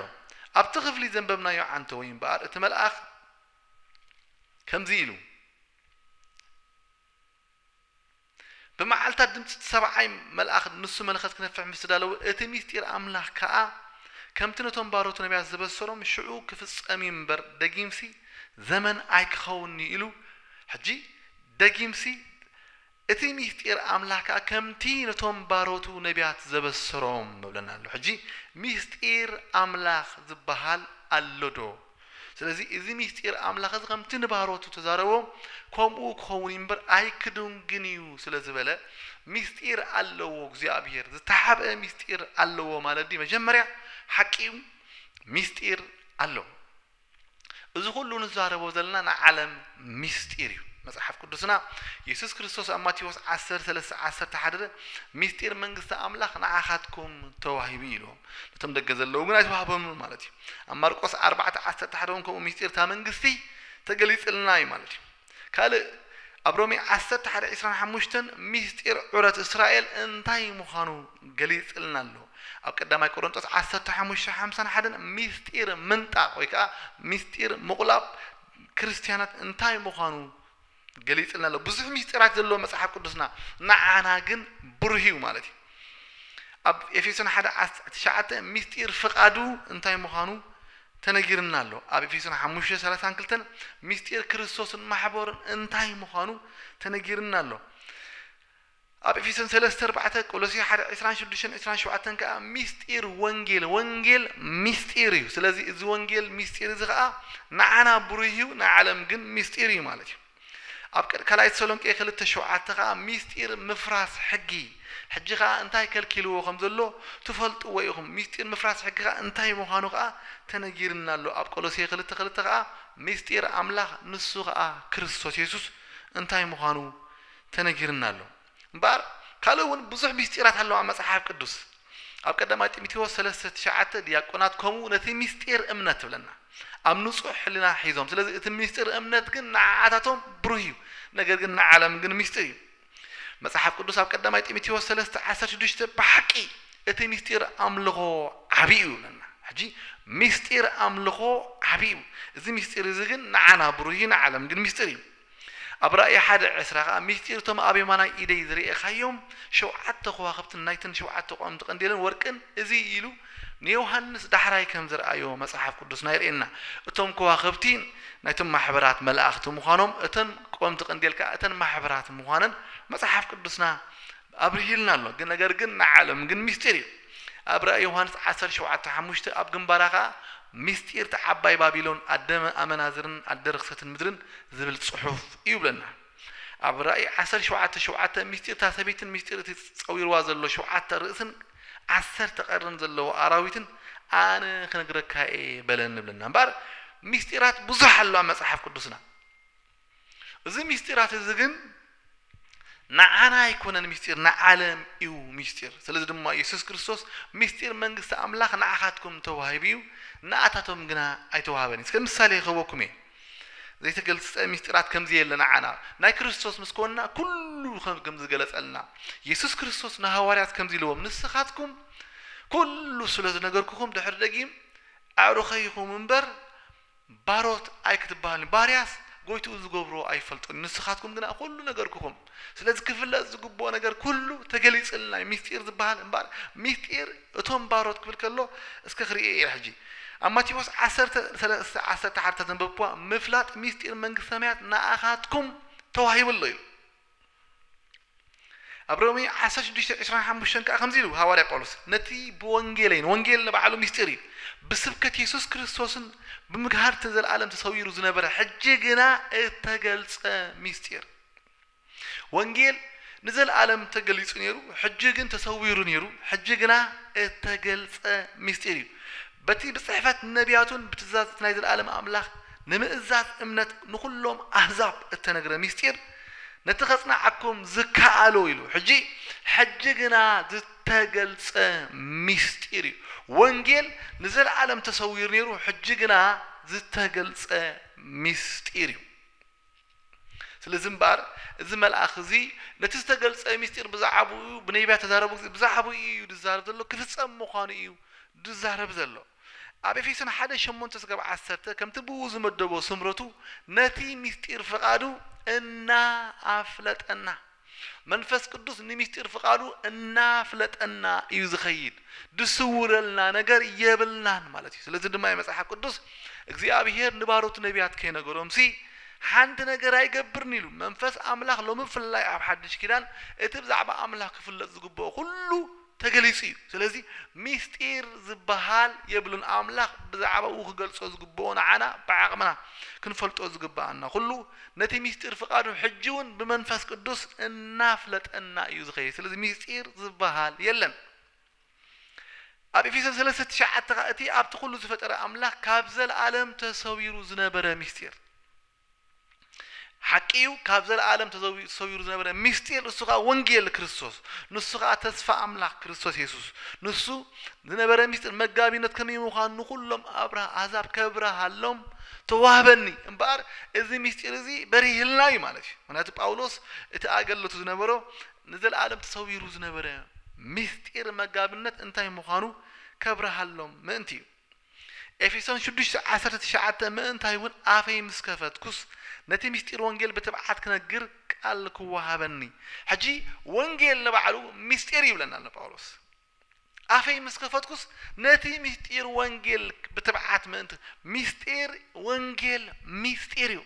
ኣብቲ ክፍሊ ዘንበብናዮ ዓንተወይ እምበኣር እቲ መልኣኽ ከምዚ ኢሉ፣ ብመዓልትታት ድምጺ እቲ ሰብዓይ መልኣኽ ንሱ መለኸት ክነፍሕ ምስ ተዳለወ፣ እቲ ምስጢር ኣምላኽ ከኣ ከምቲ ነቶም ባሮቱ ነብያት ዘበሰሮም ሽዑ ክፍጸም እዩ እምበር ደጊምሲ ዘመን ኣይክኸውንን'ዩ ኢሉ ሕጂ ደጊምሲ እቲ ሚስጢር ኣምላኽ ከኣ ከምቲ ነቶም ባሮቱ ነብያት ዘበሰሮም ንብለና ኣሎ። ሕጂ ሚስጢር ኣምላኽ ዝበሃል ኣሎዶ? ስለዚ እዚ ሚስጢር ኣምላኽ እዚ ከምቲ ንባሮቱ ተዛረቦ ከምኡ ክኸውን እዩ እምበር ኣይክዱንግን እዩ ስለ ዝበለ ሚስጢር ኣለዎ እግዚኣብሄር ዝተሓብኤ ሚስጢር ኣለዎ ማለት ድዩ መጀመርያ ሓቂዩ ሚስጢር ኣሎ። እዚ ኹሉ ንዛረቦ ዘለና ናይ ዓለም ምስጢር እዩ። መጽሓፍ ቅዱስና የሱስ ክርስቶስ ኣብ ማቴዎስ ዓሰርተ ሰለስተ ዓሰርተ ሓደ ምስጢር መንግስቲ ኣምላኽ ንዓኻትኩም ተዋሂቡ እዩ ኢልዎም። ነቶም ደገ ዘለዉ ግን ኣይተዋህቦምን ማለት እዩ። ኣብ ማርቆስ ኣርባዕተ ዓሰርተ ሓደ እውን ከምኡ ምስጢር እታ መንግስቲ ተገሊጽልና እዩ ማለት እዩ። ካልእ ኣብ ሮሜ ዓሰርተ ሓደ ዕስራን ሓሙሽተን ምስጢር ዑረት እስራኤል እንታይ ምዃኑ ገሊጽልና ኣሎ። ኣብ ቀዳማይ ቆሮንጦስ ዓሰርተ ሓሙሽተ ሓምሳን ሓደን ምስጢር ምንጣቕ ወይ ከኣ ምስጢር ምቑላብ ክርስትያናት እንታይ ምዃኑ ገሊጽልና ኣሎ። ብዙሕ ምስጢራት ዘለዎ መጽሓፍ ቅዱስና ንዓና ግን ብሩህ እዩ ማለት እዩ። ኣብ ኤፌሶን ሓደ ዓሰርተ ትሽዓተ ምስጢር ፍቓዱ እንታይ ምዃኑ ተነጊርና ኣሎ ኣብ ኤፌሶን ሓሙሽተ ሰላሳን ክልተን ምስጢር ክርስቶስን ማሕበሩን እንታይ ምዃኑ ተነጊርና ኣሎ ኣብ ኤፌሶን ሰለስተ ኣርባዕተ ቆሎሴ ሓደ ዕስራን ሽዱሽተን ዕስራን ሸውዓተን ከኣ ምስጢር ወንጌል ወንጌል ምስጢር እዩ ስለዚ እዚ ወንጌል ምስጢር እዚ ከኣ ንዓና ብሩህ እዩ ንዓለም ግን ምስጢር እዩ ማለት እዩ ኣብ ቀ ካልኣይ ተሰሎንቄ ክልተ ሸውዓተ ከኣ ምስጢር ምፍራስ ሕጊ ሕጂ ከኣ እንታይ ከልኪልዎ ከም ዘሎ ትፈልጥዎ ኢኹም ምስጢር ምፍራስ ሕጊ ከኣ እንታይ ምዃኑ ከኣ ተነጊርና ኣሎ ኣብ ቆሎሴ ክልተ ክልተ ከኣ ምስጢር ኣምላኽ ንሱ ከኣ ክርስቶስ የሱስ እንታይ ምዃኑ ተነጊርና ኣሎ። እምበኣር ካልእ እውን ብዙሕ ምስጢራት ኣለዋ ኣብ መጽሓፍ ቅዱስ። ኣብ ቀዳማይ ጢሞቴዎስ ሰለስተ ትሽዓተ ዲያቆናት ከምኡ ነቲ ምስጢር እምነት ትብለና ኣብ ንጹሕ ሕልና ሒዞም ስለዚ እቲ ምስጢር እምነት ግን ንዓኣታቶም ብሩህ እዩ ነገር ግን ንዓለም ግን ምስጢር እዩ መጽሓፍ ቅዱስ ኣብ ቀዳማይ ጢሞቴዎስ ሰለስተ ዓሰርተ ሽዱሽተ ብሓቂ እቲ ምስጢር ኣምልኾ ዓብዪ እዩ ይብለና ሕጂ ምስጢር ኣምልኾ ዓብዪ እዩ እዚ ምስጢር እዚ ግን ንዓና ብሩህ እዩ ንዓለም ግን ምስጢር እዩ ኣብ ራእይ ሓደ ዕስራ ኸኣ ምሥጢር እቶም ኣብ የማናይ ኢደይ ዝርኤኻዮም ሸውዓተ ኸዋኽብትን ናይተን ሸውዓተ ቀወምቲ ቀንዴለን ወርቅን እዚ እዩ ኢሉ ንዮሓንስ ዳሕራይ ከም ዘርኣዮ መጽሓፍ ቅዱስና የርእየና። እቶም ከዋኽብቲ ናይቶም ማሕበራት መላእኽቲ ምዃኖም እተን ቀወምቲ ቀንዴል ከኣ እተን ማሕበራት ምዃነን መጽሓፍ ቅዱስና ኣብርሂልና ኣሎ ግን ነገር ግን ንዓለም ግን ምስጢር እዩ ኣብ ራእይ ዮሃንስ ዓሰርተ ሸውዓተ ሓሙሽተ ኣብ ግንባራ ከኣ ምስጢር እታ ዓባይ ባቢሎን ኣደ ኣመናዝርን ኣደ ርክሰትን ምድርን ዝብል ጽሑፍ እዩ ይብለና ኣብ ራእይ ዓሰርተ ሸውዓተ ሸውዓተ ምስጢር እታ ሰበይትን ምስጢር እቲ ጸዊርዋ ዘሎ ሸውዓተ ርእስን ዓሰርተ ቀርንን ዘለዎ ኣራዊትን ኣነ ክነግረካ እየ በለኒ ይብለና እምበኣር ምስጢራት ብዙሕ ኣሎ ኣብ መጽሓፍ ቅዱስና እዚ ምስጢራት እዚ ግን ንዓና ኣይኮነን ምስጢር ንዓለም እዩ ምስጢር። ስለዚ ድማ ኢየሱስ ክርስቶስ ምስጢር መንግስቲ ኣምላኽ ንዓኻትኩም ተዋሂቡ እዩ፣ ንኣታቶም ግና ኣይተዋህበን እዩ። ከም ምሳሌ ክህበኩም እየ። ዘይተገልጸ ምስጢራት ከም ዘየለ ንዓና ናይ ክርስቶስ ምስ ኮንና ኩሉ ከም ዝገለጸልና ኢየሱስ ክርስቶስ ንሃዋርያት ከምዚ ኢልዎም ንስኻትኩም ኩሉ ስለ ዝነገርኩኹም ድሕሪ ደጊም ኣዕሩኸይ ኢኹም እምበር ባሮት ኣይክትበሃልኒ ባርያስ ጎይትኡ ዝገብሮ ኣይፈልጥን ንስኻትኩም ግና ኩሉ ነገርኩኹም ስለዚ ክፍለጥ ዝግብኦ ነገር ኩሉ ተገሊጽልና እዩ ምስጢር ዝበሃል እምበኣር ምስጢር እቶም ባሮት ክብል ከሎ እስከ ክርእዮ እየ ሕጂ ኣብ ማቴዎስ ዓሰርተ ሰለስተ ዓሰርተ ሓደ ተዘንበብክዋ ምፍላጥ ምስጢር መንግስተ ሰማያት ንኣኻትኩም ተዋሂቡ ኣሎ ኢሉ ኣብ ሮሜ ዓሰርተ ሽዱሽተ ዕስራን ሓሙሽተን ከኣ ከምዚ ኢሉ ሃዋርያ ጳውሎስ ነቲ ብወንጌለይን ወንጌል ንባዕሉ ምስጢር እዩ ብስብከት የሱስ ክርስቶስን ብምግሃድ እቲ ንዘለኣለም ተሰዊሩ ዝነበረ ሕጂ ግና እተገልጸ ምስጢር ወንጌል ንዘለኣለም ተገሊጹ ነይሩ ሕጂ ግን ተሰዊሩ ነይሩ ሕጂ ግና እተገልጸ ምስጢር እዩ በቲ ብጽሕፈት ነቢያቱን ብትእዛዝ እቲ ናይ ዘለኣለም ኣምላኽ ንምእዛዝ እምነት ንኹሎም ኣህዛብ እተነግረ ምስጢር ነቲ ከጽንዓኩም ዝከኣሎ ኢሉ ሕጂ ሕጂ ግና ዝተገልጸ ምስጢር እዩ ወንጌል ንዘለኣለም ተሰዊሩ ነይሩ ሕጂ ግና ዝተገልጸ ምስጢር እዩ ስለዚ እምበኣር እዚ መልኣኽ እዚ ነቲ ዝተገልጸ ምስጢር ብዛዕባኡ ብነቢያት ተዛረቡ ብዛዕባኡ እዩ ዝዛረብ ዘሎ ክፍጸም ምዃኑ እዩ ዝዛረብ ዘሎ ኣብ ኤፌሶን ሓደ ሸሞንተ ስጋብ ዓሰርተ ከምቲ ብእኡ ዝመደቦ ስምረቱ ነቲ ምስጢር ፍቃዱ እና ኣፍለጠና መንፈስ ቅዱስ ንምስጢር ፍቃዱ እና ፍለጠና እዩ ዝከይድ ድስውረልና ነገር የብልናን ማለት እዩ ስለዚ ድማ መጽሓፍ ቅዱስ እግዚኣብሄር ንባሮቱ ነቢያት ከይነገሮምሲ ሓንቲ ነገር ኣይገብርን ኢሉ መንፈስ ኣምላኽ ሎሚ ብፍላይ ኣብ ሓድሽ ኪዳን እቲ ብዛዕባ ኣምላኽ ክፍለጥ ዝግብኦ ኩሉ ተገሊጹ እዩ ስለዚ ሚስጢር ዝብሃል የብሉን ኣምላኽ ብዛዕባኡ ክገልጾ ዝግብኦ ንዓና ብዓቕምና ክንፈልጦ ዝግብኣና ኩሉ ነቲ ሚስጢር ፍቃዱ ሕጂ ውን ብመንፈስ ቅዱስ እናፍለጠና እዩ ዝኸይድ ስለዚ ሚስጢር ዝብሃል የለን ኣብ ኤፌሶን ሰለስተ ትሽዓተ ከኣ እቲ ኣብቲ ኩሉ ዝፈጠረ ኣምላኽ ካብ ዘልኣለም ተሰዊሩ ዝነበረ ሚስጢር ሓቂ እዩ ካብ ዘለኣለም ተዘዊኡ ተሰዊሩ ዝነበረ ምስጢር ንሱ ከኣ ወንጌል ክርስቶስ ንሱ ከኣ ተስፋ ኣምላኽ ክርስቶስ የሱስ ንሱ ዝነበረ ምስጢር መጋቢነት ከመይ ምዃኑ ንዅሎም ኣብርሃ ኣሕዛብ ከብርሃሎም ተዋህበኒ እምበኣር እዚ ምስጢር እዚ በሪህልና እዩ ማለት እዩ ምክንያቱ ጳውሎስ እቲ ኣገልቱ ዝነበሮ ንዘለኣለም ተሰዊሩ ዝነበረ ምስጢር መጋብነት እንታይ ምዃኑ ከብርሃሎም ምእንቲ እዩ ኤፌሶን ሽዱሽተ ዓሰርተ ትሽዓተ ምእንታይ እውን ኣፈይ ምስ ከፈትኩስ ነቲ ምስጢር ወንጌል ብትብዓት ክነግር ቃል ክወሃበኒ ሕጂ ወንጌል ንባዕሉ ምስጢር እዩ ይብለና ኣሎ ጳውሎስ ኣፈይ ምስ ከፈትኩስ ነቲ ምስጢር ወንጌል ብትብዓት ምእንቲ ምስጢር ወንጌል ምስጢር እዩ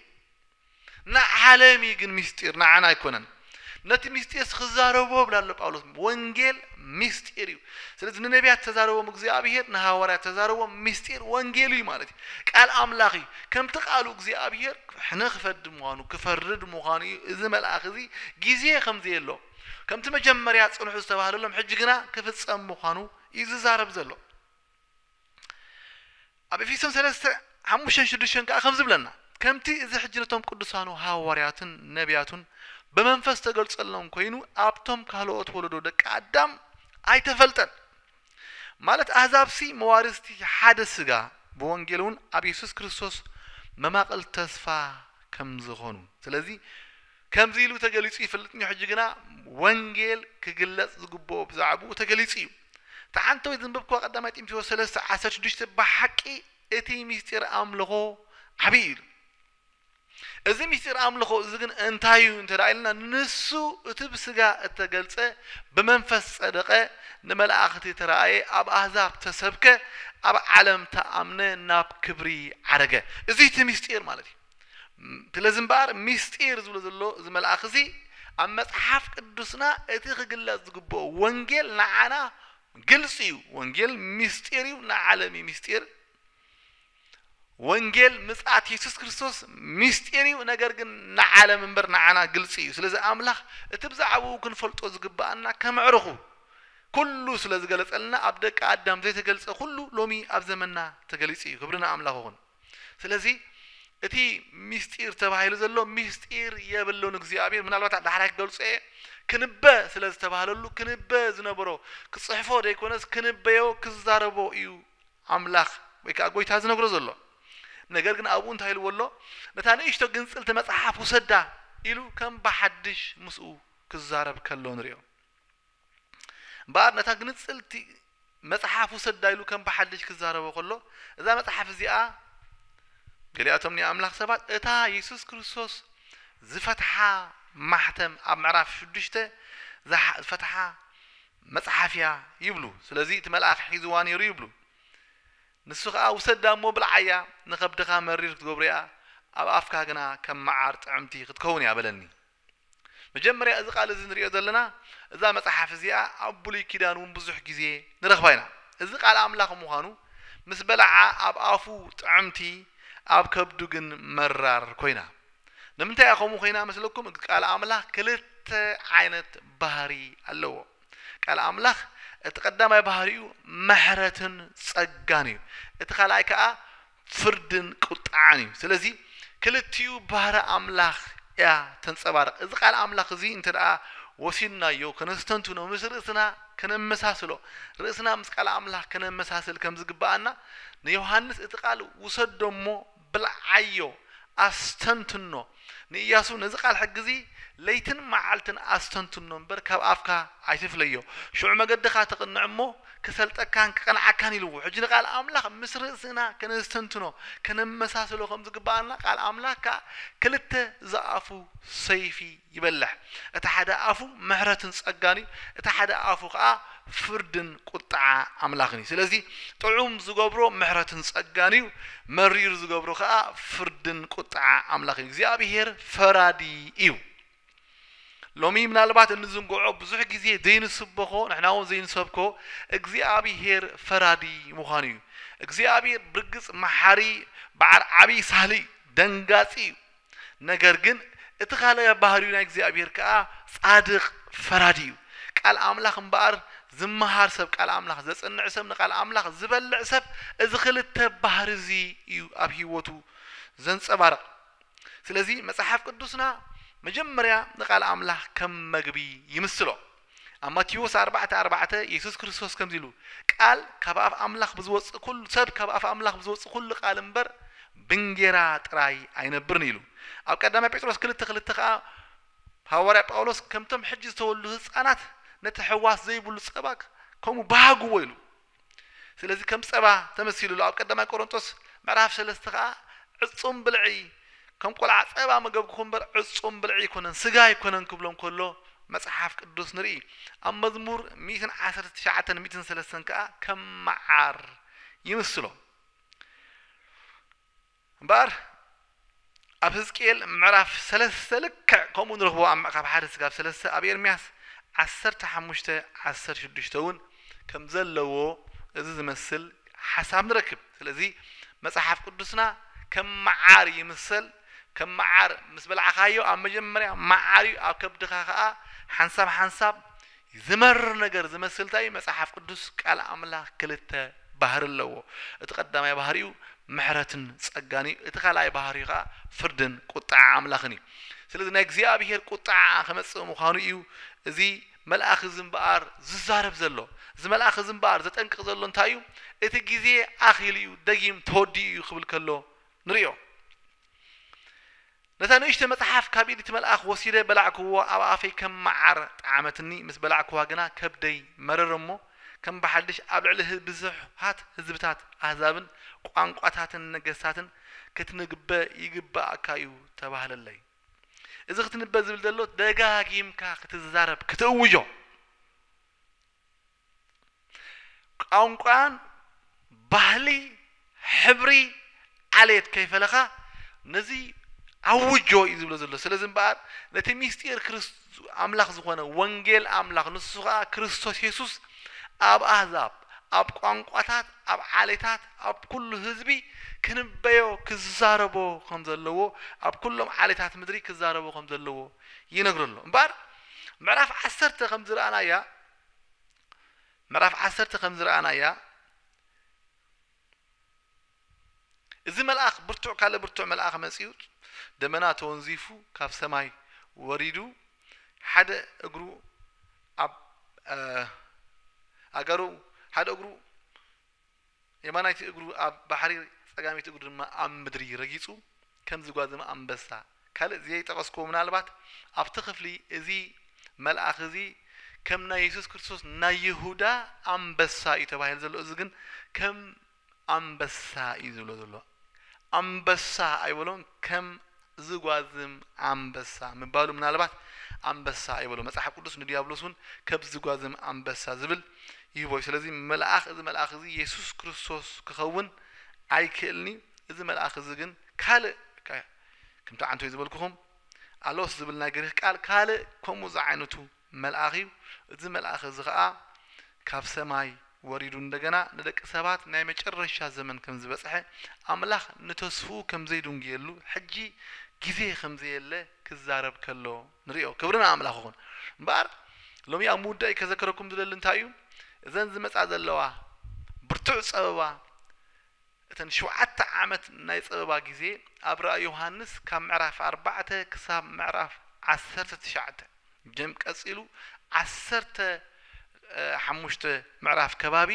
ንዓለም እዩ ግን ምስጢር ንዓና ኣይኮነን ነቲ ምስጢርስ ክዛረቦ ይብል ኣሎ ጳውሎስ ወንጌል ምስጢር እዩ ስለዚ ንነቢያት ተዛረቦም እግዚኣብሄር ንሃዋርያት ተዛረቦም ምስጢር ወንጌል እዩ ማለት እዩ ቃል ኣምላኽ እዩ ከምቲ ቃሉ እግዚኣብሄር ሕነ ክፈዲ ምዃኑ ክፈርድ ምዃኑ እዩ እዚ መልኣኽ እዚ ግዜ ከምዘየሎ ከምቲ መጀመርያ ጽንሑ ዝተባህለሎም ሕጂ ግና ክፍጸም ምዃኑ እዩ ዝዛረብ ዘሎ ኣብ ኤፌሶን ሰለስተ፣ ሓሙሽተን ሽዱሽተን ከኣ ከምዚ ይብለና፣ ከምቲ እዚ ሕጂ ነቶም ቅዱሳኑ ሃዋርያቱን ነብያቱን ብመንፈስ ዝተገልጸሎም ኮይኑ ኣብቶም ካልኦት ወለዶ ደቂ ኣዳም ኣይተፈልጠን። ማለት ኣህዛብሲ መዋርስቲ ሓደ ስጋ ብወንጌል እውን ኣብ የሱስ ክርስቶስ መማቕል ተስፋ ከምዝኾኑ ስለዚ ከምዚ ኢሉ ተገሊጹ ይፍልጥ እንዮ ሕጂ ግና ወንጌል ክግለጽ ዝግብኦ ብዛዕብኡ ተገሊጹ እዩ። እታ ሓንተወይቲ ዘንበብክዋ ቀዳማይ ጢምቴዎስ ሰለስተ ዓሰርተ ሽዱሽተ ብሓቂ እቲ ምስጢር ኣምልኾ ዓቢ እዩ ኢሉ። እዚ ምስጢር ኣምልኾ እዚ ግን እንታይ እዩ እንተ ኢልና ንሱ እቲ ብስጋ እተገልጸ ብመንፈስ ጸደቐ ንመላእኽቲ ተራእየ ኣብ ኣህዛብ ተሰብከ ኣብ ዓለም ተኣምነ ናብ ክብሪ ዓረገ እዚ እቲ ምስጢር ማለት እዩ። ስለዚ እምበኣር ምስጢር ዝብሎ ዘሎ እዚ መልኣኽ እዚ ኣብ መጽሓፍ ቅዱስና እቲ ክግለጽ ዝግብኦ ወንጌል ንዓና ግልጺ እዩ። ወንጌል ምስጢር እዩ፣ ንዓለም እዩ ምስጢር። ወንጌል ምጽኣት የሱስ ክርስቶስ ምስጢር እዩ፣ ነገር ግን ንዓለም እምበር ንዓና ግልጺ እዩ። ስለዚ ኣምላኽ እቲ ብዛዕባኡ ክንፈልጦ ዝግብኣና ከመዕርኹ ኩሉ ስለ ዝገለጸልና ኣብ ደቂ ኣዳም ዘይተገልጸ ኩሉ ሎሚ ኣብ ዘመንና ተገሊጹ እዩ። ክብሪ ንኣምላኽ ይኹን። ስለዚ እቲ ሚስጢር ተባሂሉ ዘሎ ሚስጢር የብሉን እግዚኣብሔር ምናልባት ዳሕራይ ክገልጾ እየ ክንበ ስለ ዝተባህለሉ ክንበ ዝነበሮ ክጽሕፎ ዘይኮነስ ክንበዮ ክዛረቦ እዩ ኣምላኽ ወይ ከዓ ጎይታ ዝነግሮ ዘሎ ነገር ግን ኣብኡ እንታይ ኢልዎ ኣሎ ነታ ንእሽቶ ግንጽልቲ መጽሓፍ ውሰዳ ኢሉ ከም ብሓድሽ ምስኡ ክዛረብ ከሎ ንሪኦ እምበኣር ነታ ግንጽልቲ መጽሓፍ ውሰዳ ኢሉ ከም ብሓድሽ ክዛረቦ ከሎ፣ እዛ መጽሓፍ እዚኣ ገሊኣቶም ናይ ኣምላኽ ሰባት እታ የሱስ ክርስቶስ ዝፈትሓ ማሕተም ኣብ ምዕራፍ ሽዱሽተ ዝፈትሓ መጽሓፍ እያ ይብሉ። ስለዚ እቲ መልኣኽ ሒዝዋ ነይሩ ይብሉ። ንሱ ከኣ ውሰዳ እሞ ብልዓያ፣ ንኸብድኻ መሪር ክትገብሮ እያ፣ ኣብ ኣፍካ ግና ከም መዓር ጥዕምቲ ክትከውን እያ በለኒ። መጀመርያ እዚ ቃል እዚ ንርእዮ ዘለና እዛ መጽሓፍ እዚኣ ኣብ ብሉይ ኪዳን ውን ብዙሕ ግዜ ንረኽባ ኢና። እዚ ቃል ኣምላኽ ምዃኑ ምስ በልዓ ኣብ ኣፉ ጥዕምቲ ኣብ ከብዱ ግን መራር ኮይና። ንምንታይ እያ ከምኡ ኮይና መስለኩም ቃል ኣምላኽ ክልተ ዓይነት ባህሪ ኣለዎ። ቃል ኣምላኽ እቲ ቀዳማይ ባህሪኡ ምሕረትን ጸጋን እዩ። እቲ ካልኣይ ከኣ ፍርድን ቁጥዓን እዩ። ስለዚ ክልቲኡ ባህሪ ኣምላኽ እያ ተንጸባርቕ። እዚ ቃል ኣምላኽ እዚ እንተ ደኣ ወሲድናዮ ከነስተንትኖ ምስ ርእስና ከነመሳስሎ ርእስና ምስ ቃል ኣምላኽ ከነመሳስል ከም ዝግብኣና ንዮሃንስ እቲ ቃል ውሰዶ እሞ ብልዓዮ ኣስተንትኖ ንእያሱ ነዚ ቓል ሕጊ እዚ ለይትን መዓልትን ኣስተንትኖ እምበር ካብ ኣፍካ ኣይትፍለዮ፣ ሽዑ መገድኻ ትቕንዕ እሞ፣ ክሰልጠካን ክቐንዓካን ኢልዎ። ሕጂ ንቓል ኣምላኽ ምስ ርእስና ከነስተንትኖ፣ ከነመሳስሎ ከም ዝግብኣና፣ ቓል ኣምላኽ ከኣ ክልተ ዝኣፉ ሰይፊ ይበልሕ፣ እቲ ሓደ ኣፉ ምሕረትን ጸጋን እዩ፣ እቲ ሓደ ኣፉ ከኣ ፍርድን ቁጥዓ ኣምላኽን እዩ። ስለዚ ጥዑም ዝገብሮ ምሕረትን ጸጋን እዩ፣ መሪር ዝገብሮ ከኣ ፍርድን ቁጥዓ ኣምላኽን እዩ። እግዚኣብሄር ፈራዲ እዩ። ሎሚ ምናልባት እንዝንግዖ ብዙሕ ግዜ ዘይንስበኾ ንሕና እውን ዘይንሰብኮ እግዚኣብሄር ፈራዲ ምዃኑ እዩ። እግዚኣብሄር ብርግጽ መሓሪ በዓል ዓብዪ ሳህሊ እዩ፣ ደንጋጺ እዩ፣ ነገር ግን እቲ ካልእ ባህርዩ ናይ እግዚኣብሄር ከኣ ጻድቅ ፈራዲ እዩ። ቃል ኣምላኽ እምበኣር ዝመሃር ሰብ ቃል ኣምላኽ ዘጽንዕ ሰብ ንቃል ኣምላኽ ዝበልዕ ሰብ እዚ ክልተ ባህሪ እዚ እዩ ኣብ ሂወቱ ዘንጸባርቅ ስለዚ መጽሓፍ ቅዱስና መጀመርያ ንቃል ኣምላኽ ከም መግቢ ይምስሎ። ኣብ ማቴዎስ ኣርባዕተ ኣርባዕተ የሱስ ክርስቶስ ከምዚ ኢሉ ቃል ካብ ኣፍ ኣምላኽ ብዝወጽእ ኩሉ ሰብ ካብ ኣፍ ኣምላኽ ብዝወጽእ ኩሉ ቃል እምበር ብንጌራ ጥራይ ኣይነብርን ኢሉ ኣብ ቀዳማይ ጴጥሮስ ክልተ ክልተ ከኣ ሃዋርያ ጳውሎስ ከምቶም ሕጂ ዝተወልዱ ህጻናት ነቲ ሕዋስ ዘይብሉ ጸባ ከምኡ ባህግዎ ኢሉ ስለዚ ከም ጸባ ተመሲሉሉ ኣብ ቀዳማይ ቆሮንጦስ ምዕራፍ ሰለስተ ከኣ ዕጹም ብልዒ ከም ቆልዓ ጸባ መገብኩኹም እምበር ዕጹም ብልዒ ኣይኮነን ስጋ ኣይኮነን ክብሎም ከሎ መጽሓፍ ቅዱስ ንርኢ ኣብ መዝሙር ሚእትን ዓሰርተ ትሽዓተን ሚእትን ሰለስተን ከኣ ከም መዓር ይምስሎ እምበኣር ኣብ ህዝቅኤል ምዕራፍ ሰለስተ ልክዕ ከምኡ ንረኽቦ ኣብ ምዕካፍ ሓደ ስጋብ ሰለስተ ኣብ ኤርምያስ ዓሰርተ ሓሙሽተ ዓሰርተ ሽዱሽተ እውን ከም ዘለዎ እዚ ዝመስል ሓሳብ ንረክብ ስለዚ መጽሓፍ ቅዱስና ከም መዓር ይምሰል ከም መዓር ምስ በላዕኻዮ ኣብ መጀመርያ መዓር እዩ ኣብ ከብድኻ ከኣ ሓንሳብ ሓንሳብ ዝመርር ነገር ዝመስል ታይ መጽሓፍ ቅዱስ ቃል ኣምላኽ ክልተ ባህሪ ኣለዎ እቲ ቀዳማይ ባህሪኡ ምሕረትን ጸጋን እዩ እቲ ካልኣይ ባህሪኡ ከኣ ፍርድን ቁጥዓ ኣምላኽን እዩ ስለዚ ናይ እግዚኣብሄር ቁጥዓ ክመጽእ ምዃኑ እዩ እዚ መልኣኽ እዚ እምበኣር ዝዛረብ ዘሎ እዚ መልኣኽ እዚ እምበኣር ዘጠንቅቕ ዘሎ እንታይ እዩ እቲ ግዜ ኣኺሉ እዩ ደጊም ተወዲኡ እዩ ክብል ከሎ ንሪኦ። ነታ ንእሽተይ መጽሓፍ ካብ ኢድ እቲ መልኣኽ ወሲደ በላዕክዎ፣ ኣብ ኣፈይ ከም መዓር ጠዓመትኒ፣ ምስ በላዕክዋ ግና ከብደይ መረረ እሞ፣ ከም ብሓድሽ ኣብ ልዕሊ ብዙሓት ህዝብታት፣ ኣህዛብን ቋንቋታትን ነገስታትን ክትንግበ ይግበኣካ እዩ ተባህለለይ። እዚ ክትንበ ዝብል ዘሎ ደጋጊምካ ክትዛረብ፣ ክትእውጆ። ቛንቛን ባህሊ ሕብሪ ዓሌት ከይፈለኻ ነዚ ኣውጆ እዩ ዝብሎ ዘሎ ስለዚ እምበኣር ነቲ ምስጢር ክርስ- ኣምላኽ ዝኾነ ወንጌል ኣምላኽ ንሱ ከዓ ክርስቶስ የሱስ ኣብ ኣህዛብ ኣብ ቋንቋታት ኣብ ዓሌታት ኣብ ኩሉ ህዝቢ ክንበዮ ክዛረቦ ከም ዘለዎ ኣብ ኩሎም ዓሌታት ምድሪ ክዛረቦ ከም ዘለዎ ይነግሮ ኣሎ እምበኣር ምዕራፍ ዓሰርተ ከም ዝረኣናያ ምዕራፍ ዓሰርተ ከም ዝረኣናያ እዚ መልኣኽ ብርቱዕ ካልእ ብርቱዕ መልኣኽ መጺኡ ደመና ተወንዚፉ ካብ ሰማይ ወሪዱ ሓደ እግሩ ኣብ ኣገሩ ሓደ እግሩ የማናይቲ እግሩ ኣብ ባሕሪ ጸጋሚት እግሩ ድማ ኣብ ምድሪ ረጊጹ ከም ዝጓዘመ ኣንበሳ ካልእ ዝየይጠቐስክዎ ምናልባት ኣብቲ ክፍሊ እዚ መልኣኽ እዚ ከም ናይ የሱስ ክርስቶስ ናይ ይሁዳ ኣንበሳ እዩ ተባሂሉ ዘሎ እዚ ግን ከም ኣንበሳ እዩ ዝብሎ ዘሎ ኣንበሳ ኣይበሎን ከም ዝጓዝም ኣንበሳ ምባሉ ምናልባት ኣንበሳ ኣይበሎ መጽሓፍ ቅዱስ ንድያብሎስ ውን ከብ ዝጓዝም ኣንበሳ ዝብል ይህቦ እዩ ስለዚ መልኣኽ እዚ መልኣኽ እዚ የሱስ ክርስቶስ ክኸውን ኣይክእልን እዩ እዚ መልኣኽ እዚ ግን ካልእ ከምቲ ዓንተይ ዝበልኩኹም ኣሎስ ዝብል ናይ ግሪኽ ቃል ካልእ ከምኡ ዝዓይነቱ መልኣኽ እዩ፣ እዚ መልኣኽ እዚ ኸኣ ካብ ሰማይ ወሪዱ እንደገና ንደቂ ሰባት ናይ መጨረሻ ዘመን ከም ዝበጽሐ፣ ኣምላኽ ንተስፍኡ ከም ዘይድንጉየሉ፣ ሕጂ ግዜ ከም ዘየለ ክዛረብ ከሎ ንርእዮ። ክብሪ ንኣምላኽ ይኹን። እምበኣር ሎሚ ኣብ ምውዳእይ ከዘክረኩም ዝደሊ እንታይ እዩ፣ እዘን ዝመጻ ዘለዋ ብርቱዕ ጸበባ፣ እተን ሸውዓተ ዓመት ናይ ጸበባ ግዜ ኣብ ራእይ ዮሃንስ ካብ ምዕራፍ ኣርባዕተ ክሳብ ምዕራፍ ዓሰርተ ትሽዓተ ጀም ቀጺሉ ዓሰርተ ሓሙሽተ ምዕራፍ ከባቢ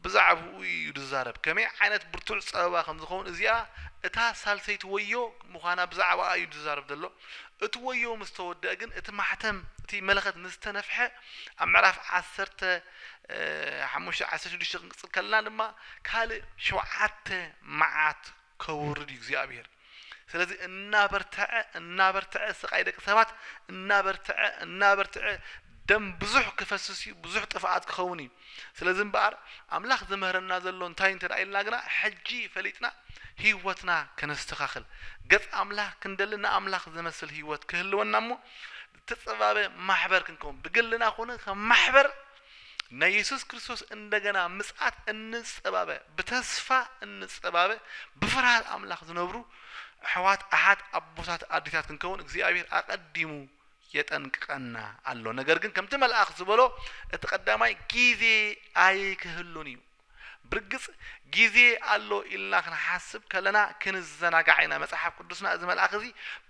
ብዛዕባኡ ኢዩ ዝዛረብ ከመይ ዓይነት ብርቱዕ ጸበባ ከም ዝኸውን እዚኣ እታ ሳልሰይቲ ወዮ ምዃና ብዛዕባኣ ኢዩ ዝዛረብ ዘሎ እቲ ወዮ ምስ ተወድኣ ግን እቲ ማሕተም እቲ መለኸት ምስ ተነፍሐ ኣብ ምዕራፍ ዓሰርተ ሓሙሽተ ዓሰርተ ሽዱሽተ ክንቅጽል ከለና ድማ ካልእ ሸውዓተ መዓት ከውርድ እዩ እግዚኣብሔር ስለዚ እናበርትዐ እናበርትዐ ስቃይ ደቂ ሰባት እናበርትዐ እናበርትዐ ደም ብዙሕ ክፈስስ እዩ ብዙሕ ጥፍኣት ክኸውን እዩ ስለዚ እምበኣር ኣምላኽ ዝምህረና ዘሎ እንታይ እንተ ኢልና ግና ሕጂ ፈሊጥና ህይወትና ከነስተኻኽል ገጽ ኣምላኽ ክንደሊ ንኣምላኽ ዝመስል ህይወት ክህልወና እሞ እተጸባበ ማሕበር ክንከውን፣ ብግልና ኹነ ከም ማሕበር ናይ የሱስ ክርስቶስ እንደገና ምጽኣት እንጸባበ፣ ብተስፋ እንጸባበ፣ ብፍርሃት ኣምላኽ ዝነብሩ ኣሕዋት፣ ኣሓት፣ ኣቦታት፣ ኣዲታት ክንከውን እግዚኣብሄር ኣቐዲሙ የጠንቅቐና ኣሎ። ነገር ግን ከምቲ መልኣኽ ዝበሎ እቲ ቀዳማይ ግዜ ኣይክህሉን እዩ። ብርግጽ ግዜ ኣሎ ኢልና ክንሓስብ ከለና ክንዘናጋዕ ኢና። መጽሓፍ ቅዱስና እዚ መልኣኽ እዚ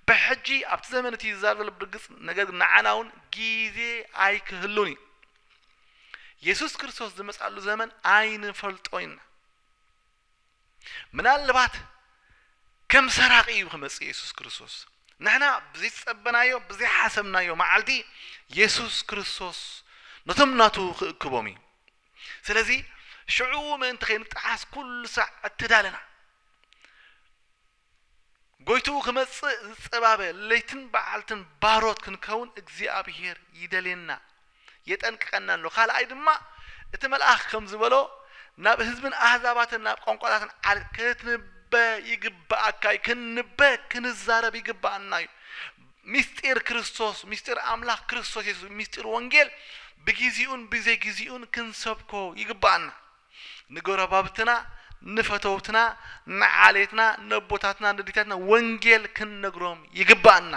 ብሕጂ ኣብቲ ዘመን እቲ እዩ ዝዛረብ ዘሎ ብርግጽ ነገር ግን ንዓና እውን ግዜ ኣይክህሉን እዩ። የሱስ ክርስቶስ ዝመጽኣሉ ዘመን ኣይንፈልጦን ኢና። ምናልባት ከም ሰራቂ እዩ ክመጽእ የሱስ ክርስቶስ ንሕና ብዘይጸበናዮ ብዘይሓሰብናዮ መዓልቲ የሱስ ክርስቶስ ነቶም ናቱ ክእክቦም እዩ ስለዚ ሽዑ ምእንቲ ከይንጠሓስ ኩሉ ሳዕ እተዳለና፣ ጐይትኡ ክመጽእ ዝጸባበ ለይትን በዓልትን ባሮት ክንከውን እግዚኣብሄር ይደልየና፣ የጠንቅቐና ኣሎ። ካልኣይ ድማ እቲ መልኣኽ ከም ዝበሎ ናብ ህዝብን ኣህዛባትን ናብ ቋንቋታትን ዓል ክትንበ ይግብኣካ እዩ። ክንንበ ክንዛረብ ይግብኣና እዩ። ምስጢር ክርስቶስ፣ ምስጢር ኣምላኽ ክርስቶስ የሱስ፣ ምስጢር ወንጌል ብጊዚኡን ብዘይጊዚኡን ክንሰብኮ ይግብኣና። ንጎረባብትና፣ ንፈተውትና፣ ንዓሌትና፣ ነቦታትና፣ ነዲታትና ወንጌል ክንነግሮም ይግብኣና።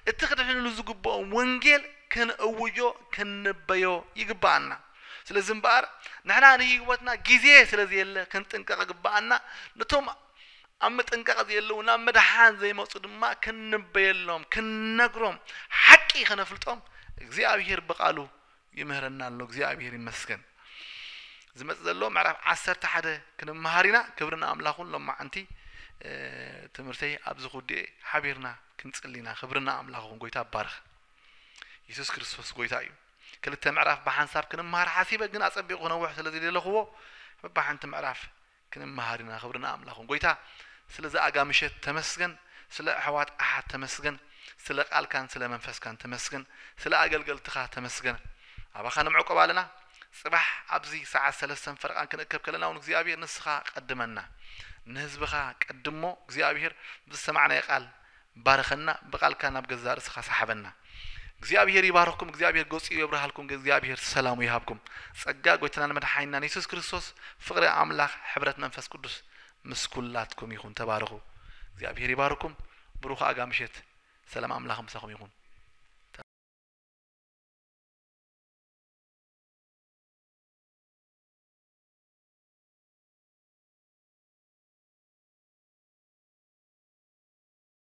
እቲ ክድሕንሉ ዝግብኦም ወንጌል ክንእውጆ፣ ክንንበዮ ይግብኣና። ስለዚ እምበኣር ንሕና ንህይወትና ጊዜ ስለዘየለ ክንጥንቀቕ ይግብኣና። ነቶም ኣብ ምጥንቃቕ ዘየለዉ ናብ ምድሓን ዘይመጹ ድማ ክንንበየሎም ክንነግሮም ሓቂ ከነፍልጦም እግዚኣብሄር ብቓሉ ይምህረና ኣሎ እግዚኣብሄር ይመስገን ዝመጽእ ዘሎ ምዕራፍ ዓሰርተ ሓደ ክንመሃር ኢና ክብሪ ንኣምላኹን ሎማዓንቲ ትምህርተይ ኣብዚ ኩዲኤ ሓቢርና ክንጽሊ ኢና ክብሪ ንኣምላኹን ጎይታ ባርኽ የሱስ ክርስቶስ ጎይታ እዩ ክልተ ምዕራፍ ብሓንሳብ ክንመሃር ሓሲበ ግን ኣጸቢቑ ክነውሕ ስለ ዝደለኹዎ በብሓንቲ ምዕራፍ ክንመሃር ኢና ክብሪ ንኣምላኽ ይኹን ጎይታ ስለ ዝኣጋ ምሸት ተመስገን ስለ ኣሕዋት ኣሓት ተመስገን ስለ ቃልካን ስለ መንፈስካን ተመስገን ስለ ኣገልገልትኻ ተመስገን ኣባኻ ንምዕቆብ ኣለና ጽባሕ ኣብዚ ሰዓት ሰለስተን ፈርቓን ክንእከብ ከለና ውን እግዚኣብሄር ንስኻ ቀድመና ንህዝብኻ ቀድሞ እግዚኣብሄር ብዝሰማዕናዮ ቃል ባርኸና ብቃልካ ናብ ገዛእ ርእስኻ ሳሓበና። እግዚኣብሄር ይባርኽኩም እግዚኣብሄር ገጹ የብርሃልኩም እግዚኣብሄር ሰላሙ ይሃብኩም ጸጋ ጎይትናን መድሓኒናን የሱስ ክርስቶስ ፍቅሪ ኣምላኽ ሕብረት መንፈስ ቅዱስ ምስ ኩላትኩም ይኹን ተባረኹ እግዚኣብሄር ይባርኩም ብሩኽ ኣጋ ምሸት ሰላም ኣምላኽ ምሳኹም ይኹን።